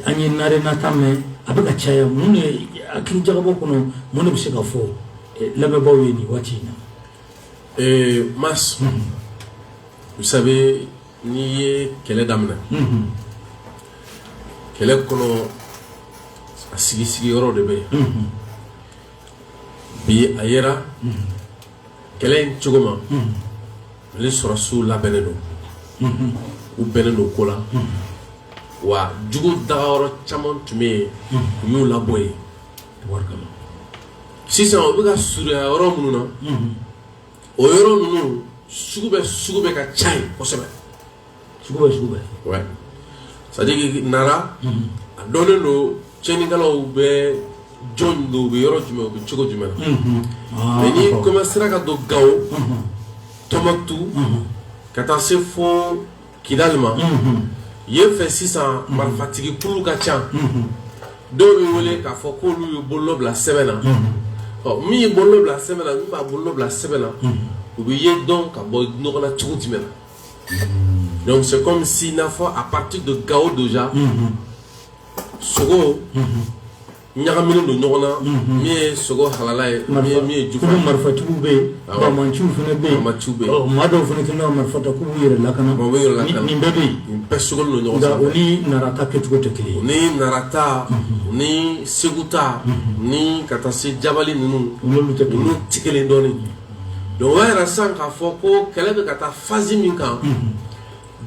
an ye Nara ta mɛn a bɛ ka caya mun de hakilijagabɔ kɔnɔ mun de bɛ se ka fɔ lamɛnbaaw ye nin waati in na Ee mais vous savez n'i ye kɛlɛ daminɛ kɛlɛ kɔnɔ a sigi sigi yɔrɔ de bɛ yen bi a yera kɛlɛ in cogo Mali sɔrɔsiw labɛnnen don u bɛnnen don ko la wa jugu dagayɔrɔ caman tun bɛ yen u y'u labɔ yen sisan u bɛ ka surunya yɔrɔ minnu na o yɔrɔ ninnu sugu bɛɛ sugu bɛɛ ka ca yen kosɛbɛ sugu bɛɛ sugu bɛɛ c'est-à-dire que Nara a dɔnnen don cɛnnikɛlaw bɛ jɔn don u bɛ yɔrɔ jumɛn u bɛ cogo jumɛn na mais n'i kɔmansera ka don Gao Tumutu ka taa se fo kidali ma yen fɛ sisan marifatigi kulu ka ca dɔw bɛ wele k'a fɔ k'olu ye bolonɔ bila sɛbɛn na ɔ min ye bolonɔ bila sɛbɛn na min m'a bolonɔ bila sɛbɛn na u bɛ ye dɔn ka bɔ ɲɔgɔn na cogo jumɛn na donc c'est comme si n'a fɔ à partir de Gao déjà sogo ɲagaminen don ɲɔgɔn na min ye sogo halala ye min ye jufa ye marifatigiw bɛ yen banbaanciw fana bɛ yen banbaanciw bɛ yen maa dɔw fana kɛlen don marifa ta k'u b'u yɛrɛ lakana u b'u yɛrɛ lakana nin bɛɛ bɛ yen nin bɛɛ sogolen don ɲɔgɔn sanfɛ o ni Nara ta kɛcogo tɛ kelen ye ni Nara ta ni Segu ta ni ka taa se Jabali ninnu n'olu tɛ kelen olu tɛ kelen dɔɔnin donc o y'a yira sisan k'a fɔ ko kɛlɛ bɛ ka taa phase min kan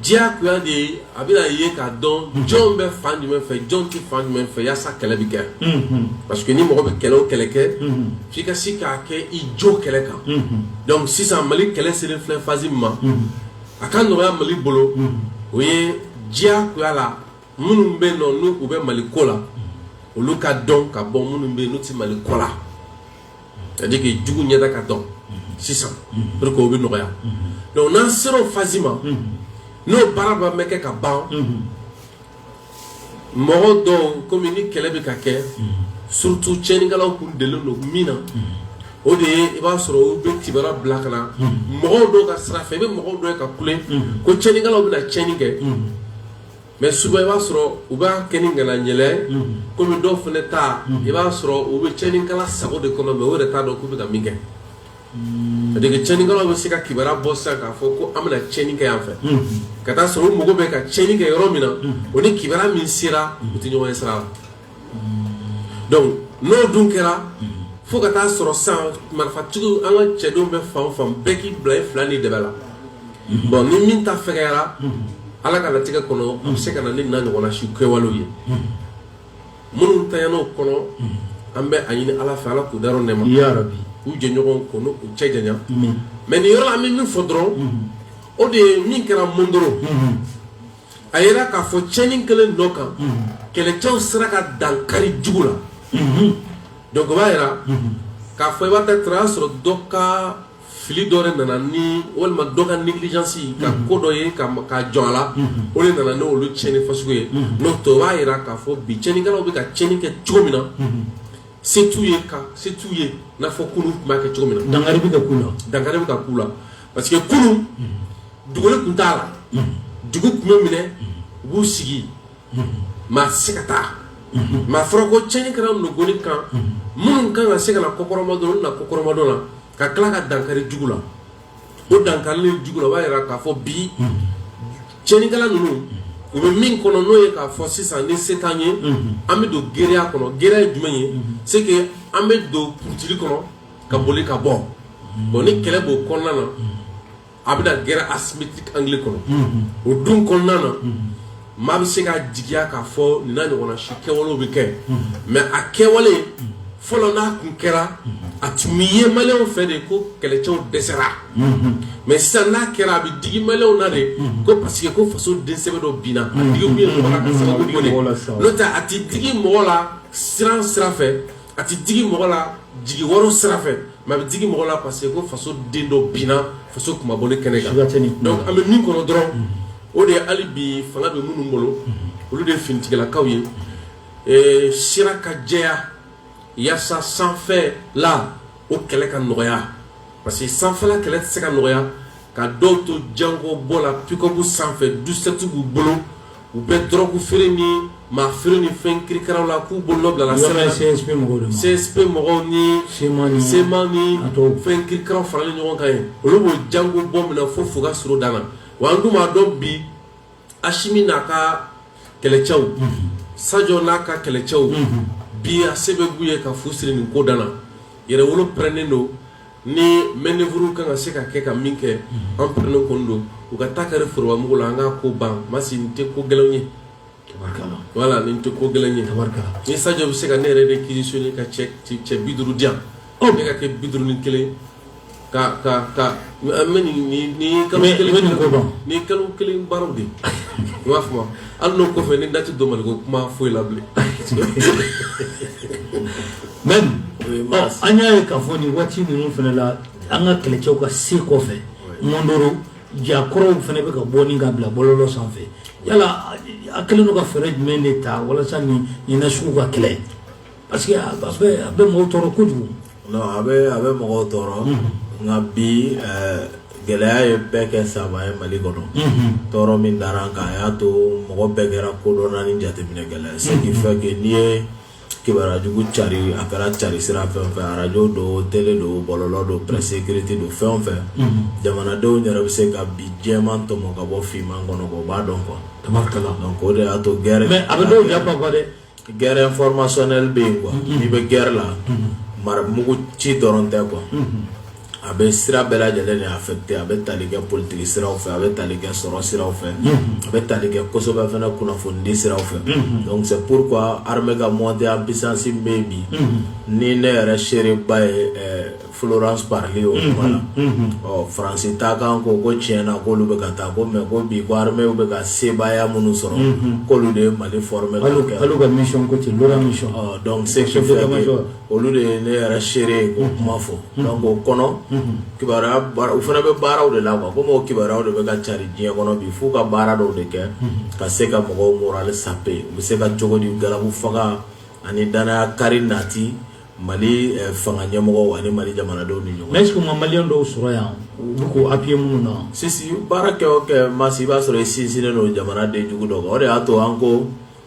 diyagoya de ye a bɛna ye k'a dɔn mhm. jɔn bɛ fan jumɛn fɛ jɔn tɛ fan jumɛn fɛ yaasa kɛlɛ bɛ kɛ mhm. parce que ni mɔgɔ bɛ kɛlɛ o kɛlɛ kɛ mhm. f'i ka se k'a kɛ i jo kɛlɛ kan donc sisan mali kɛlɛ selen filɛ phase min ma a ka nɔgɔya mali bolo o ye diyagoya la minnu bɛ yen nɔ n'u bɛ mali ko la olu ka dɔn ka bɔ minnu bɛ yen n'u tɛ mali ko la c'est-à-dire que jugu ɲɛda ka dɔn sisan pour que o bɛ nɔgɔya donc n'an sera o phase ma n'o baara b'an bɛ kɛ ka ban mɔgɔ dɔw komi ni kɛlɛ bɛ ka kɛ surtout cɛnikɛlaw kun delilen don min na o de ye i b'a sɔrɔ u bɛ kibaruya bila ka na mɔgɔw dɔw ka sira fɛ i bɛ mɔgɔw dɔ ye ka kule ko cɛnikɛlaw bɛna cɛni kɛ mɛ souvent i b'a sɔrɔ u b'a kɛ ni ŋaniya jɛlen kɔmi dɔw fana ta i b'a sɔrɔ u bɛ cɛnikɛla sago de kɔnɔ mɛ o yɛrɛ t'a dɔn k'u bɛ ka min kɛ cɛnikɛlaw bɛ se ka kibaruya bɔ sisan k'a fɔ ko an bɛna cɛni kɛ yan fɛ ka taa sɔrɔ u mago bɛ ka cɛni kɛ yɔrɔ min na o ni kibaruya min sera u tɛ ɲɔgɔn ye sira la n'o dun kɛra fo ka taa sɔrɔ sisan marifatigiw an ka cɛdenw bɛ fan fan bɛɛ k'i bila i fila ni de la bon ni min ta fɛgɛyara ala ka latigɛ kɔnɔ a bɛ se ka na ni n'a ɲɔgɔnna si kɛwalew ye minnu taara o kɔnɔ an bɛ a ɲini ala fɛ ala k'u da nɛɛma u jɛɲɔgɔn ko n'u cɛ janya mɛ nin yɔrɔ la an bɛ min fɔ dɔrɔn o de ye min kɛra mondoro a yira k'a fɔ cɛni kelen dɔ kan kɛlɛcɛw sera ka dankari jugu la donc o b'a yira k'a fɔ i b'a ta taara y'a sɔrɔ dɔ ka fili dɔ de nana ni walima dɔ ka négligence ka ko dɔ ye ka jɔ a la o de nana n'olu cɛni fasugu ye n'o tɛ o b'a yira k'a fɔ bi cɛnikɛlaw bɛ ka cɛni kɛ cogo min na se t'u ye ka se t'u ye n'a fɔ kunun tun b'a kɛ cogo min na dankari bɛ ka k'u la parce que kunun dugukolo tun t'a la dugu tun bɛ minɛ u b'u sigi maa tɛ se ka taa mɛ a fɔra ko cɛni kɛra nɔgɔni kan minnu kan ka se ka na kɔkɔrɔmadon olu na kɔkɔrɔmadon la ka tila ka dankari jugu la o dankari jugu la o b'a jira k'a fɔ bi cɛnikɛla ninnu u bɛ min kɔnɔ n'o ye k'a fɔ sisan ni se t'an ye an bɛ don guérilla kɔnɔ guérilla ye jumɛn ye c'est que an bɛ don ptiri kɔnɔ ka boli ka bɔ bon ni kɛlɛ b'o kɔnɔna na a bɛ na guerre asymétrique angle kɔnɔ o dun kɔnɔna na maa bɛ se ka jigiya k'a fɔ nin n'a ɲɔgɔnna si kɛwalew bɛ kɛ mɛ a kɛwale fɔlɔ n'a tun kɛra a tun bɛ ye maliyɛnw fɛ de ko kɛlɛcɛw dɛsɛra mɛ sisan n'a kɛra a bɛ digi maliyɛnw na de ko parce que ko faso densɛbɛ dɔ binna a digi kun ye mɔgɔ la ka sababu de n'o tɛ a tɛ digi mɔgɔ la siran sira fɛ a tɛ digi mɔgɔ la jigi waaro sira fɛ mais a bɛ digi mɔgɔ la parce que ko faso den dɔ binna faso kunmabɔ kɛnɛ kan donc an bɛ min kɔnɔ dɔrɔn o de ye hali bi fanga bɛ minnu bolo olu de ye finitigilakaw ye sira ka jɛya yaasa sanfɛla o kɛlɛ ka nɔgɔya parce que sanfɛla kɛlɛ tɛ se ka nɔgɔya ka dɔw to jango bɔ la pick-up sanfɛ douze-sept b'u bolo u bɛ dɔrɔgu feere ni maa feere ni fɛn kirikaraw la k'u bolo nɔ bilala CSP mɔgɔw ni CMA ni fɛn kirikaraw faralen ɲɔgɔn kan yen olu b'o jango bɔ minɛ fo fuga suro dan na wa an dun b'a dɔn bi Asimi n'a ka kɛlɛcɛw Sajɔ n'a ka kɛlɛcɛw bi a se bɛɛ b'u ye ka fu siri nin ko dan na yɛrɛwolo pɛrɛnnen don ni manœuvre ka kan ka se ka kɛ ka min kɛ an pɛrɛnnen kɔni don u ka taa kɛra forobamugu la an ka ko ban Masi nin tɛ ko gɛlɛn ye voilà nin tɛ ko gɛlɛn ye ni Sajɔ bɛ se ka ne yɛrɛ de réquisitionner ka cɛ bi duuru di yan ne ka kɛ bi duuru ni kelen ka ka ka kalo ni kalo kelen baaraw de i b'a fɔ hali n'o kɔfɛ ni dati don mali ko kuma foyi la bilen mais an y'a ye k'a fɔ nin waati ninnu fana la an ka kɛlɛcɛw ka se kɔfɛ Mondoro jakɔrɔw fana bɛ ka bɔ ni ka bila bɔlɔlɔ sanfɛ yala a hakili la u ka fɛɛrɛ jumɛn de ta walasa nin nasugu ka kɛlɛ parce que a bɛ mɔgɔw tɔɔrɔ kojugu non a bɛ a bɛ mɔgɔw tɔɔrɔ nka bi gɛlɛya ye bɛɛ kɛ savant ye mali kɔnɔ tɔɔrɔ min dara an kan a y'a to mɔgɔ bɛɛ kɛra kodɔnna ni jateminɛkɛla ye ce qui fait que n'i ye kibaruya jugu cari a kɛra cari sira fɛn o fɛn arajo don tele don bɔlɔlɔ don presse écrite don fɛn o fɛn jamanadenw yɛrɛ bɛ se ka bi jɛman tɔmɔ ka bɔ finman kɔnɔ o b'a dɔn quoi tabarikala donc o de y'a to guerre mais a bɛ dɔw échappé quoi dɛ guerre informationnelle bɛ yen quoi n'i bɛ guerre la maramugu ci dɔrɔn tɛ quoi a bɛ sira bɛɛ lajɛlen de affecté a bɛ tali kɛ politique siraw fɛ a bɛ tali kɛ sɔrɔ siraw fɛ a bɛ tali kɛ kosɛbɛ fana kunnafonidi siraw fɛ donc c'est pourquoi armée ka montée en puissance bɛ yen bi ni ne yɛrɛ seereba ye Florence Parly o kumana ɔ France Inter kan ko ko tiɲɛ na k'olu bɛ ka taa ko mais ko bi ko armée bɛ ka sebaaya minnu sɔrɔ k'olu de ye Mali former k'olu ka mission ko ten donc ce qui fait que olu de ye ne yɛrɛ seere ye k'o kuma fɔ o kɔnɔ u fana bɛ baaraw de la quoi comme o kibaruyaw de bɛ ka cari diɲɛ kɔnɔ bi f'u ka baara dɔw de kɛ ka se ka mɔgɔw morale saper u bɛ se ka cogo di galabu faga ani dannaya kari nati mali fanga ɲɛmɔgɔw ani mali jamanadenw ni ɲɔgɔn mais est-ce que malien dɔw sɔrɔ yan u bɛ k'o appuyer minnu na sisan baara kɛ o kɛ Masi i b'a sɔrɔ i sinsinnen don jamana den jugu dɔ kan o de y'a to an ko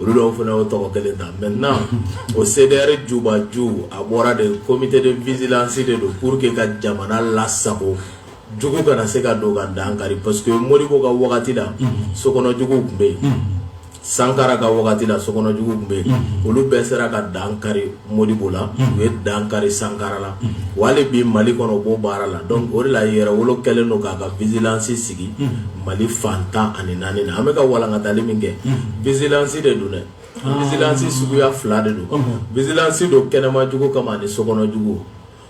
olu dɔw fana o tɔgɔ kelen ta maintenant o CDR jubaju a bɔra de comité de vigilance de don pour que ka jamana lasago jugu kana se ka don ka dankari parce que Modibo ka wagati la sokɔnɔjugu tun bɛ yen Sankara ka wagati la sokɔnɔjugu tun bɛ yen olu bɛɛ sera ka dankari Modibo la u ye dankari Sankara la hali bi Mali kɔnɔ u b'o baara la donc o de la Yɛrɛwolo kɛlen don k'a ka vigilance sigi Mali fan tan ani naani na an bɛka ka walankatali min kɛ vigilance de don dɛ vigilance suguya fila de don vigilance don kɛnɛmajugu kama ni sokɔnɔjugu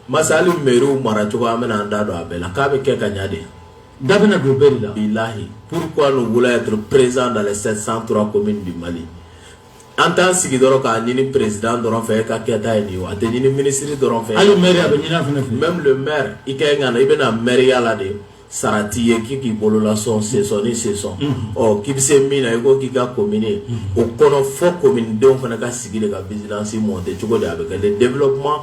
masali mɛriw maracogo an bɛna an da don a bɛɛ la k'a bɛ kɛ ka ɲa de da bɛna don bɛɛ la bilahi pourquoi nous voulons être présents dans les sept cent trois communes du Mali an t'an sigi dɔrɔn k'a ɲini président dɔrɔn fɛ e ka kɛta ye nin ye o a tɛ ɲini ministre dɔrɔn fɛ hali maire a bɛ ɲini a fana fɛ même le maire i ka ɲi ka na i bɛna mairie la de sarati ye k'i k'i bolo lasɔn sesɔn ni sesɔn ɔ k'i bɛ se min na i ko k'i ka commune o kɔnɔ fɔ commune denw fana ka sigi de ka vigilance monter cogo di a bɛ kɛ le développement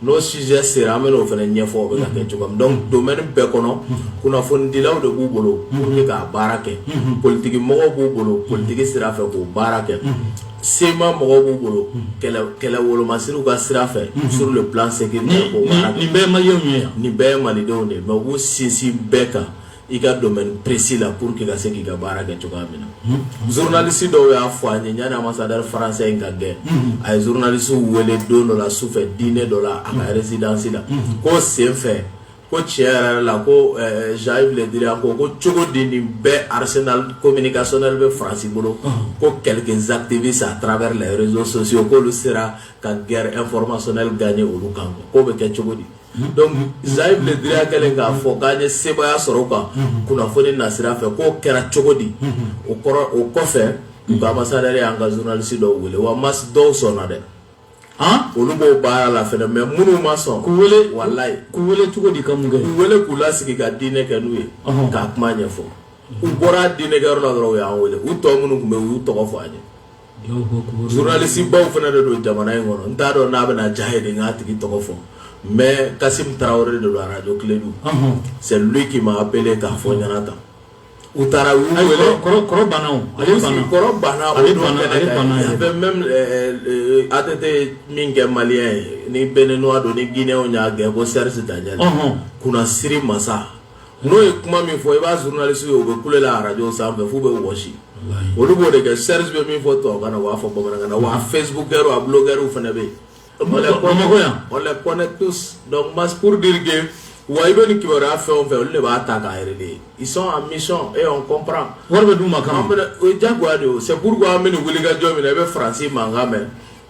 n'o sujet sera an bɛn'o fana ɲɛfɔ o bɛ ka kɛ cogo min donc domaine bɛɛ kɔnɔ kunnafonidilaw de b'u bolo pour que k'a baara kɛ politigi mɔgɔw b'u bolo politigi sira fɛ k'o baara kɛ CMA mɔgɔw b'u bolo kɛlɛ wolomasiriw ka sira fɛ sur le plan sécuritaire nin bɛɛ ma ye nin bɛɛ ye malidenw de mais u b'u sinsin bɛɛ kan i ka domaine précis la pour que ka se k'i ka baara kɛ cogoya min na journaliste dɔw y'a fɔ an ye yanni ambassadeur français in ka gɛn a ye journaliste wele don dɔ la sufɛ dîner dɔ la a ka résidence la k'o sen fɛ ko tiɲɛ yɛrɛ la ko Jean-Yves Le Drian ko ko cogo di nin bɛɛ arsenal communicationnel bɛ France bolo ko quelques activistes à travers les réseaux sociaux k'olu sera ka guerre informationnelle gagner olu kan k'o bɛ kɛ cogo di Jean-Yves Le Drian kɛlen k'a fɔ k'an ye sebaya sɔrɔ u kan kunnafoni nasira fɛ k'o kɛra cogo di o o kɔfɛ u ka ambassadeur y'an ka journaliste dɔw wele wa mais dɔw sɔnna dɛ olu b'o baara la fɛnɛ mais minnu ma sɔn k'u weele wala k'u weele cogo di ka mun kɛ k'u weele k'u lasigi ka diinɛ kɛ n'u ye k'a kuma ɲɛfɔ u bɔra diinɛkɛ yɔrɔ la dɔrɔn u y'an weele u tɔ minnu tun bɛ u y'u tɔgɔ fɔ an ye journalistebaw fana de don jamana in kɔnɔ n t'a dɔn n'a bɛna diy'a ye de n k'a tigi tɔgɔ fɔ mais Kassim Traoré de don Radio Klédu c'est lui qui m'a appelé k'a fɔ n ɲɛna tan u taara u wele même ATT min kɛ malien ye ni Béninois don ni Guinée y'a gɛn ko Serge Daniel kunnasiri masa n'o ye kuma min fɔ i b'a journalistew ye u bɛ kule la radio sanfɛ f'u bɛ wɔsi olu b'o de kɛ Serge bɛ min fɔ tubabu na u b'a fɔ bamanan na wa facebookers a blogueurw fana bɛ yen on les connaît tous donc mas pour dire que wa i bɛ ni kibaruya fɛn o fɛn olu de b'a ta k'a relayer ils sont en mission et on comprend wari bɛ d'u ma kan o ye jagoya de ye o c'est pourquoi an bɛ wulikajɔ min na i bɛ faransi mankan mɛn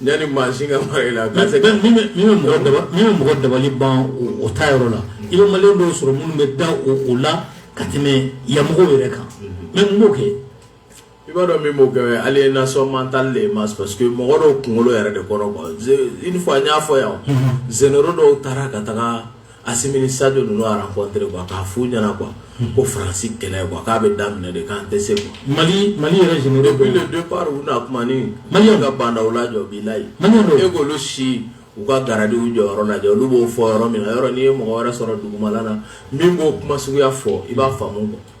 Yanni maa si ka fara i la ka se ka min bɛ min bɛ mɔgɔ daba min bɛ mɔgɔ dabali ban o o ta yɔrɔ la i bɛ maliyɛn dɔw sɔrɔ minnu bɛ da o o la ka tɛmɛ yan mɔgɔw yɛrɛ kan mais mun b'o kɛ i b'a dɔn min b'o kɛ o ye aliénation mentale de ye mas parce que mɔgɔ dɔw kunkolo yɛrɛ de kora quoi je une fois n y'a fɔ yan o généraux dɔw taara ka taga Assimi ni Sadio ninnu a rencontré quoi k'a f'u ɲɛna quoi ko faransi kɛlɛ quoi k'a bɛ daminɛ de k'an tɛ se quoi mali mali yɛrɛ généraux depuis le départ u na kuma ni mali ka bandaw lajɔ bilayi e k'olu si u ka garadiw jɔyɔrɔ lajɛ olu b'o fɔ yɔrɔ min na yɔrɔ n'i ye mɔgɔ wɛrɛ sɔrɔ dugumala na min b'o kuma suguya fɔ i b'a faamu quoi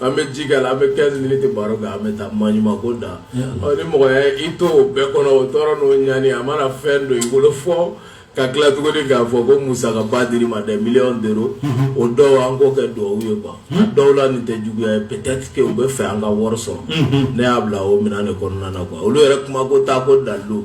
an bɛ ji k'a la an bɛ 15 minutes baro kɛ an bɛ taa maɲuman ko da ɔ ni mɔgɔ y'a ye i to o bɛɛ kɔnɔ o tɔɔrɔ n'o ɲani a mana fɛn don i bolo fɔ ka tila tuguni k'a fɔ ko musakaba dir'i ma des millions d'euros o dɔw an k'o kɛ duwawu ye quoi a dɔw la nin tɛ juguya ye peut-être que u bɛ fɛ an ka wari sɔrɔ ne y'a bila o minɛn de kɔnɔna na quoi olu yɛrɛ kuma ko t'a ko dalilu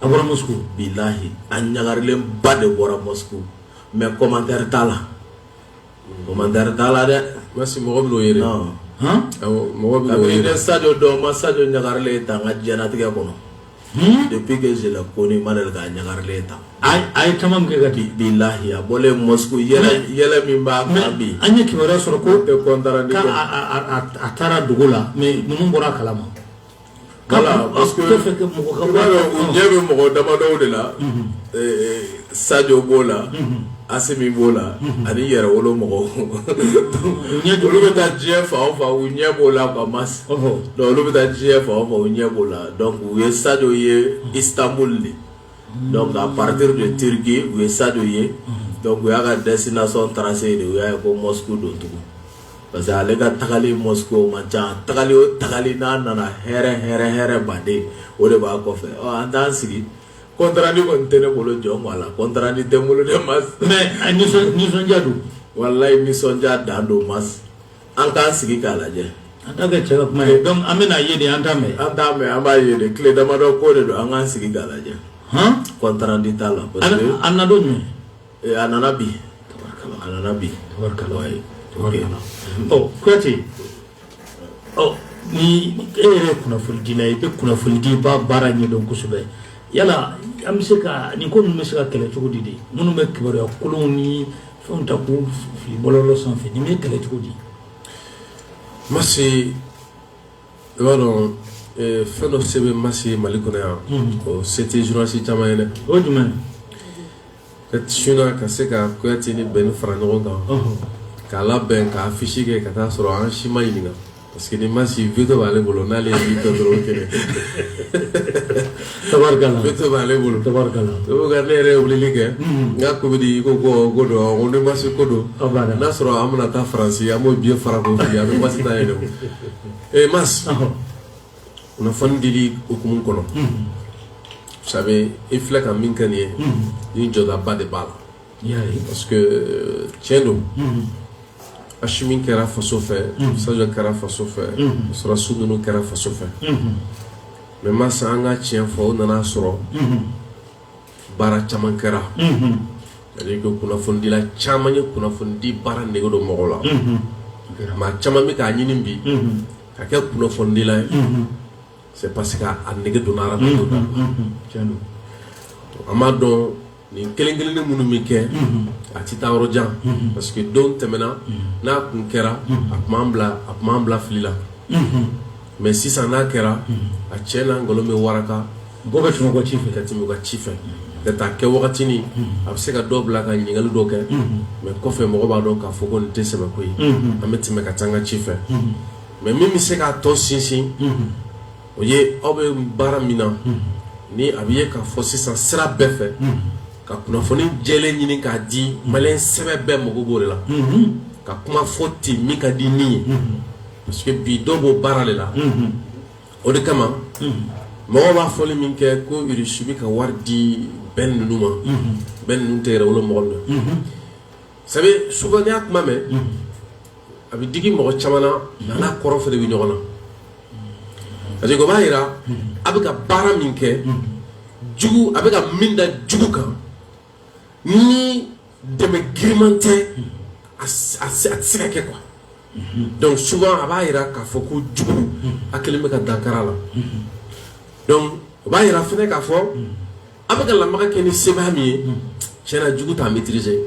A bɔra muso bi layi a ɲagaga ba de bɔra mɛ kɔmantɛre t'a la kɔmantɛre t'a la dɛ mɔgɔ bɛo ye mɔgɔ sajɔ dɔn ma sajɔ ɲagaga ta an ka jtigɛ kɔnɔ de bɛla ko ni ma ka ɲagaga ta a ye caman kɛ ka di bi layi a bɔ yɛlɛ min b'a bi an ye kiba wɛrɛ sɔrɔ ko kɔn a taara dugu la mɛ ninnu bɔra kalama Ka ɲɛ bɛ mɔgɔ dabada de la sajw b'o la a min b'o la ani yɛrɛ wolo mɔgɔw olu bɛ taa diɲɛ fa fa u ɲɛ b'o la ba ma olu bɛ taa diɲɛ fa fa u ɲɛ b'o la u ye saj ye i tanboli de nka pate de terike u ye sadu ye u y'a ka dɛsɛsina sɔn taara se de u y'a ye ko mɔ don tugun parce que ale ka tagali Moscou man ca tagali o tagali n'a nana hɛrɛ hɛrɛ hɛrɛba de o de b'a kɔfɛ ɔ an t'an sigi contrat nin kɔni tɛ ne bolo jɔn ko a la contrat nin tɛ n bolo dɛ mas mais a nisɔn nisɔndiya don walayi nisɔndiya dan don mas an k'an sigi k'a lajɛ an t'a kɛ cɛ ka kuma ye donc an bɛna ye de an t'a mɛn an t'a mɛn an b'a ye de tile damadɔ ko de don an k'an sigi k'a lajɛ han contrat nin t'a la parce que an na don jumɛn Eh, a nana bi a nana bi kuyate ni e yɛrɛ ye kunnafonidila ye i bɛ kunnafonidi baara ɲɛdɔn kosɛbɛ yala an bɛ se ka nin ko ninnu bɛ se ka kɛlɛ cogo di de minnu bɛ kibaruya kolonw ni fɛnw ta k'u fili bɔlɔlɔ sanfɛ nin bɛ kɛlɛ cogo di masi i b'a dɔn eh, fɛn dɔ se bɛ masi mali kɔnɔ yan o se tɛ journaliste caman ye dɛ o ye jumɛn Ka su ka se ka kuyate ni bɛni fara ɲɔgɔn kan k'a labɛn ka affiche kɛ ka taa sɔrɔ an si ma ɲininka parce que ni masi veto b'ale bolo n'ale kɛ b'ale bolo ne yɛrɛ wulili kɛ n ka ko bɛ di ko ko don ni masi ko don n'a sɔrɔ an bɛna taa faransi an b'o biye fara a bɛ ma taa yɛrɛ ma kunnafoni dili hukumu kɔnɔ vous savez i filɛ ka min kɛ nin ye ni jɔdaba de b'a la parce que tiɲɛ don asimi kɛra faso fɛ sajɔ kɛra faso fɛ sɔrɔdasi ninnu kɛra faso fɛ mais masi an ka tiɲɛ fɔ o nana sɔrɔ baara caman kɛra c'est-à-dire que kunnafonidila caman ye kunnafonidi baara nege don mɔgɔw la maa caman bɛ k'a ɲini bi ka kɛ kunnafonidila ye c'est parce que a nege donna u la an b'a dɔn nin kelen kelenni minnu bɛ kɛ a tɛ taa yɔrɔ jan parce que don tɛmɛna n'a kun kɛra a tun b'an bila a tun b'an bila fili la mais sisan n'a kɛra a cɛ n'a nkalon bɛ waraka Mɔgɔ bɛ tɛmɛ ci fɛ ka tɛmɛ u ka ci fɛ ka taa kɛ wagatinin a bɛ se ka dɔ bila ka ɲininkali dɔ kɛ mais kɔfɛ mɔgɔ b'a dɔn k'a fɔ ko nin tɛ sɛbɛ ko ye an bɛ tɛmɛ ka taa an ka ci fɛ mais min bɛ se k'a tɔ sinsin o ye aw bɛ baara min na ni a bɛ ye k'a fɔ sisan sira bɛɛ fɛ ka kunnafoni jɛlen ɲini k'a di malien sɛbɛ bɛɛ mago b'o de la ka kuma fɔ ten min ka di ni ye parce que bi dɔ b'o baara de la o de kama mɔgɔ b'a fɔli min kɛ ko irisi bɛ ka wari di bɛn ninnu ma bɛn ninnu tɛ yɛrɛwolo mɔgɔ na sabu souvent n'i y'a kuma mɛn a bɛ digi mɔgɔ caman na a n'a kɔrɔ fana bɛ ɲɔgɔn na parce que o b'a yira a bɛ ka baara min kɛ jugu a bɛ ka min da jugu kan ni dɛmɛ giriman tɛ a tɛ se ka kɛ quoi donc souvent a b'a jira k'a fɔ ko jugu a kelen bɛ ka dankara la donc o b'a jira fɛnɛ k'a fɔ a bɛ ka lamaga kɛ ni sebaaya min ye tiɲɛ na jugu t'a maîtriser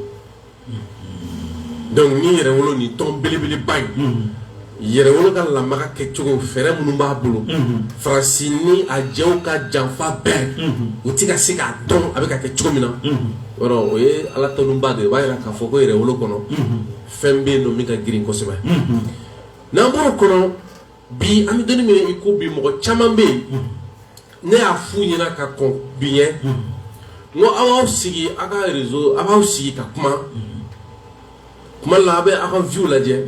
donc ni Yɛrɛwolo nin tɔn belebeleba in Yɛrɛwolo ka lamaga kɛcogo fɛɛrɛ minnu b'a bolo Faransi ni a jɛw ka janfa bɛɛ u tɛ ka se k'a dɔn a bɛ ka kɛ cogo min na o ye Ala tanuba de o b'a jira k'a fɔ ko Yɛrɛwolo kɔnɔ fɛn bɛ yen don min ka girin kosɛbɛ n'an b'o kɔnɔ bi an bɛ don min i ko bi mɔgɔ caman bɛ yen ne y'a f'u ɲɛna ka kɔn bi ɲɛ n ko aw b'aw sigi aw ka réseau aw b'aw sigi ka kuma kuma la aw bɛ aw ka view lajɛ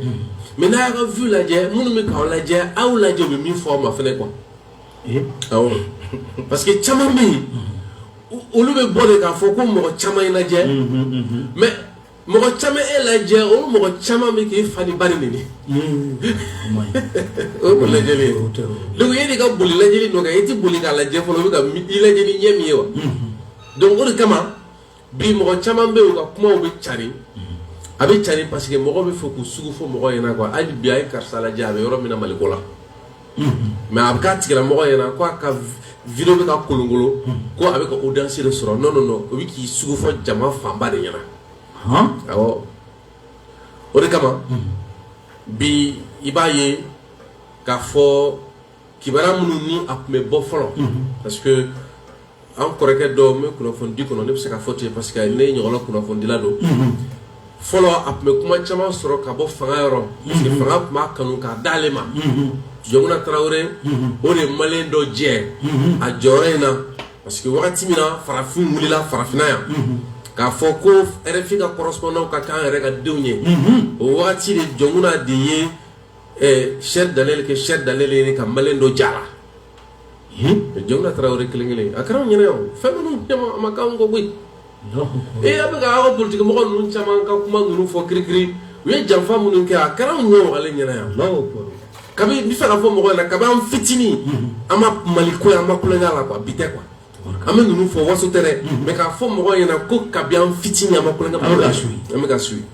mais n'a y'a ka view lajɛ minnu bɛ k'aw lajɛ aw lajɛ u bɛ min fɔ aw ma fɛnɛ quoi awɔ parce que caman bɛ yen olu bɛ bɔ de k'a fɔ ko mɔgɔ caman ye lajɛ mais mɔgɔ caman e lajɛ o mɔgɔ caman bɛ k'i fa n'i ba neni de o ko lajɛ donc e de ka boli lajɛli nɔ kan e tɛ boli k'a lajɛ fɔlɔ u bɛ ka i lajɛ ni ɲɛ min ye wa donc o de kama bi mɔgɔ caman bɛ yen u ka kumaw bɛ carin a bɛ carin parce que mɔgɔw bɛ fɛ k'u sugu fɔ mɔgɔ ɲɛna quoi hali bi a ye karisa lajɛ a bɛ yɔrɔ min na Maliko la mais a bɛ k'a tigilamɔgɔ ɲɛna ko a ka vidéo bɛ ka kolonkolon ko a bɛ ka audience de sɔrɔ non non non o bɛ k'i sugu fɔ jama fanba de ɲɛna awɔ o de kama bi i b'a ye k'a fɔ kibaruya minnu ni a tun bɛ bɔ fɔlɔ parce an kɔrɔkɛ dɔ n bɛ kunnafonidi kɔnɔ ne bɛ se ka fɔ ten parce que ne ɲɔgɔnna kunnafonidila don fɔlɔ a tun bɛ kuma caman sɔrɔ ka bɔ fanga yɔrɔ parce que fanga tun b'a kanu k'a d'ale ma Jɔnkunda Tarawele o de ye maliyɛn dɔ jɛ a jɔyɔrɔ in na parce que wagati min na farafinw wulila farafinna yan k'a fɔ ko RFI ka correspondant ka k'an yɛrɛ ka denw ye o wagati de Jɔnkunda de ye Serge Daniel kɛ Serge Daniel ye ka maliyɛn dɔ j'a la Jɔnkunda Tarawele kelen kelen a kɛra an ɲɛna yan fɛn minnu caman a ma k'an kɔ koyi ee a bɛ ka aw ka politikimɔgɔ ninnu caman ka kuma ninnu fɔ kirikiri u ye janfa minnu kɛ a kɛra an ɲɛ ale ɲɛna yan kabi n bɛ fɛ ka fɔ mɔgɔ ɲɛna kabi an fitinin an ma mali ko ye an ma kulonkɛ a la quoi bi tɛ quoi an bɛ ninnu fɔ waso tɛ dɛ mais k'a fɔ mɔgɔ ɲɛna ko kabi an fitinin an ma kulonkɛ mali la an bɛ k'a suivi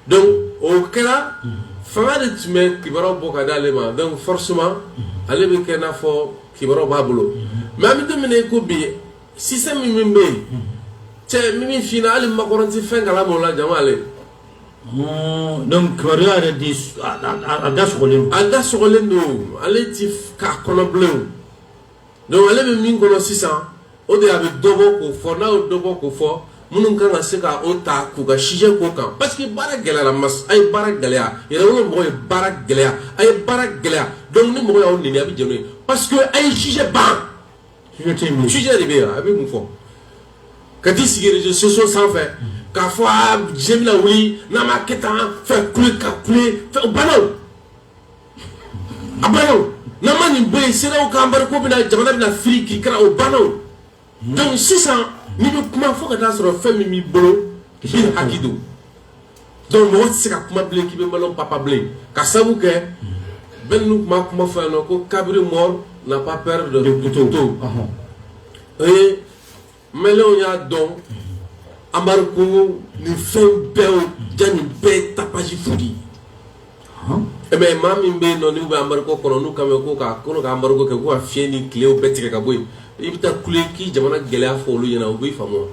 donc o kɛra fanga de tun bɛ kibaru bɔ ka d'ale ma donc forcément ale bɛ kɛ i n'a fɔ kibaru b'a bolo mais an bɛ don min na i ko bi système min bɛ yen cɛ min f hali Macron tɛ fɛn kalama o la jama ale donc kibaruya yɛrɛ di a da sɔgɔlen a da sɔgɔlen don ale tɛ k'a kɔnɔbilen Donc ale bɛ min kɔnɔ sisan o de a bɛ dɔ bɔ k'o fɔ n'a y'o dɔ bɔ k'o fɔ minnu kan ka se k' o ta k'u ka sujet k'o kan parce que baara gɛlɛyala ma a ye baara gɛlɛya yɛrɛwolo mɔgɔw ye baara gɛlɛya a ye baara gɛlɛya donc ni mɔgɔ y'aw nɛni a bɛ jɛn n'o ye parce que a ye sujet ban sujet de bɛ yen a bɛ mun fɔ ka t'i sigi réseaux sociaux sanfɛ k'a fɔ diɲɛ bɛna wuli n'a ma kɛ tan fɛn k'a banna a banna o n'an ma nin bɔ yen CEDEAO ka embargo bɛna jamana bɛna firi kirikara o banna o donc sisan n'i bɛ kuma fo ka t'a sɔrɔ fɛn min b'i bolo k'i hakɛ dɔn donc mɔgɔ tɛ se ka kuma bilen k'i bɛ maliyɛnw papa bilen ka sabu kɛ bɛɛ ninnu tun b'a kuma fɔ yan nɔ ko cabri mort n'a pas peur de couteau o ye Maliyɛnw y'a dɔn embargo nin fɛn bɛɛ jaa nin bɛɛ tapage fu de ye mais maa min bɛ yen nɔn n'u bɛ embargo kɔnɔ n'u kan bɛ ko k'a kolo k' embargo kɛ ko ka fiɲɛ ni tile bɛɛ tigɛ ka bɔ yen i bɛ taa kule k'i jamana gɛlɛya fɔ olu ɲɛna u b'i faamu wa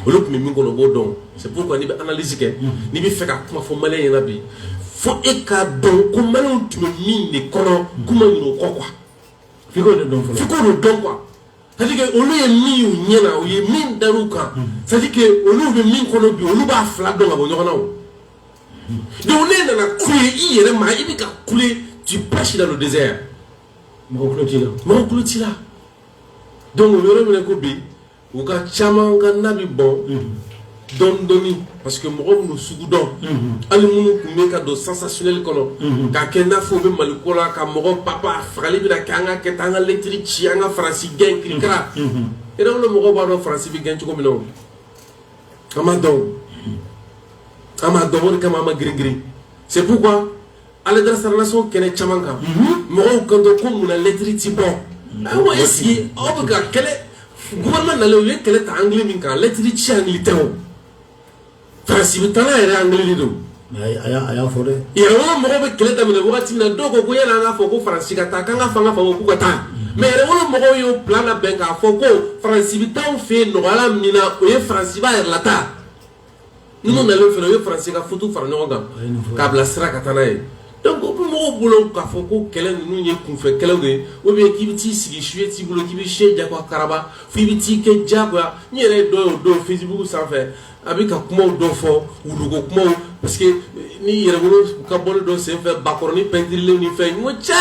olu tun bɛ min kɔnɔ u b'o dɔn c'est pourquoi n'i bɛ analyse kɛ n'i bɛ fɛ ka kuma fɔ maliyɛn ɲɛna bi fo e k'a dɔn ko maliyɛnw tun bɛ min de kɔnɔ kuma ɲinɛ o kɔ quoi f'i k'o de dɔn quoi C'est-à-dire que olu ye min y'u ɲɛ na u ye min dar'u kan c'est-à-dire que olu bɛ min kɔnɔ bi olu b'a fila dɔn ka bɔ ɲɔgɔn na o donc n'e nana kule i yɛrɛ ma i bɛ ka kule tu prêches dans le désert mɔgɔ tulo t'i la donc o yɔrɔ minɛ ko bi u ka caman ka na bɛ bɔn dɔɔnin dɔɔnin parce que mɔgɔ minnu sugu dɔn hali minnu tun bɛ ka don sensationnel kɔnɔ k'a kɛ i n'a fɔ u bɛ mali ko la ka mɔgɔ papa fagali bɛna kɛ an k'a kɛ tan an ka lɛtiri ci an ka faransi gɛn kirikara yɛrɛwolo mɔgɔw b'a dɔn faransi bɛ gɛn cogo min na an b'a dɔn an b'a dɔn o de kama an ma girin girin c'est pourquoi ale da saralasiw kɛnɛ caman kan mɔgɔw kan ko munna lɛtiri tɛ bɔ ayiwa est-ce que aw bɛ ka kɛlɛ gouvernement nalen u ye kɛlɛ ta angle min kan lɛtiri ci angle tɛ o faransi bɛ taa n'a yɛrɛ angle de don a y'a fɔ dɛ yɛrɛwolo mɔgɔw bɛ kɛlɛ daminɛ waati min na dɔw ko ko yala an k'a fɔ ko faransi ka taa k'an ka fanga fa k'u ka taa mais yɛrɛwolo mɔgɔw y'o plan labɛn k'a fɔ ko faransi bɛ taa an fɛ yen nɔgɔya la min na o ye faransi b'a yɛrɛ lataa Ninnu nalen fana u ye faransi ka futu fara ɲɔgɔn kan k'a bila sira ka taa n'a ye donc o bɛ mɔgɔw bolo k'a fɔ ko kɛlɛ ninnu ye kunfɛ kɛlɛ de ye ou bien k'i bɛ t'i sigi sujet t'i bolo k'i bɛ sujet jagoya karaba fo i bɛ t'i kɛ jagoya n yɛrɛ ye dɔ ye o don Facebook sanfɛ a bɛ ka kuma dɔ fɔ wuluko kuma parce que ni yɛrɛwolo ka bɔli dɔ senfɛ bakɔrɔnin pɛntirilen nin fɛ ɲɔgɔn cɛ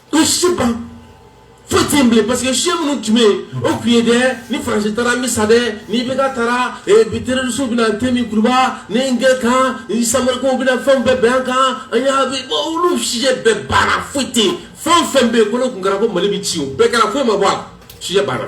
N sujet ban foyi tɛ yen bilen parce que sujet minnu tun bɛ yen o tun ye dɛ ni Faransi taara an bɛ sa dɛ ni IBK taara terroristes bɛna tɛmɛ Kuruba ni n kɛ kan ni sari bɛ fɛn bɛɛ bin an kan an y'a olu sujet bɛɛ banna foyi tɛ yen fɛn o fɛn bɛ yen ko n'o tun kɛra ko Mali bɛ ci o bɛɛ kɛra foyi ma bɔ a la sujet banna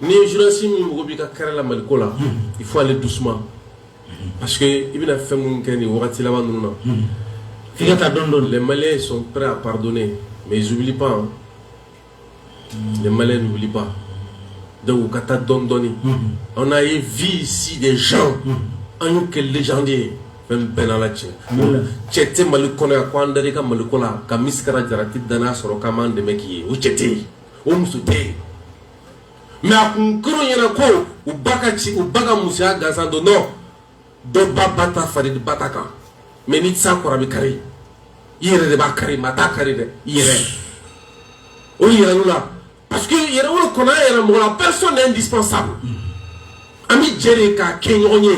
N'i ye journaliste min mago b'i ka carrière la Mali ko la, unhun, il faut aller doucement parce que i bɛna fɛn minnu kɛ nin wagati laban ninnu na, unhun, f'i ka taa dɔɔnin dɔɔnin, les Maliens sont prêts à pardonner mais ils oublient pas hein, les Maliens n'oublient pas donc u ka taa dɔɔnin dɔɔnin, unhun, on a vu ici des gens an y'u kɛ légende ye fɛn bɛɛ n'Ala cɛ, cɛ tɛ Mali kɔnɔ yan ko an dar'i ka Mali ko la ka Misikara Jarati danaya sɔrɔ k'an b'an dɛmɛ k'i ye o cɛ tɛ yen o muso tɛ yen mais a tun kɛr'u ɲɛna ko u ba ka ci u ba ka musoya gansan don non dɔ ba ba ta fari ba ta kan mais ni tisa kɔrɔ bɛ kari i yɛrɛ de b'a kari maa t'a kari dɛ i yɛrɛ o Yɛrɛwolo la parce que Yɛrɛwolo kɔnɔ an yɛrɛ mɔgɔ la personne n'est indispensable an bɛ jɛ de k'a kɛ ɲɔgɔn ye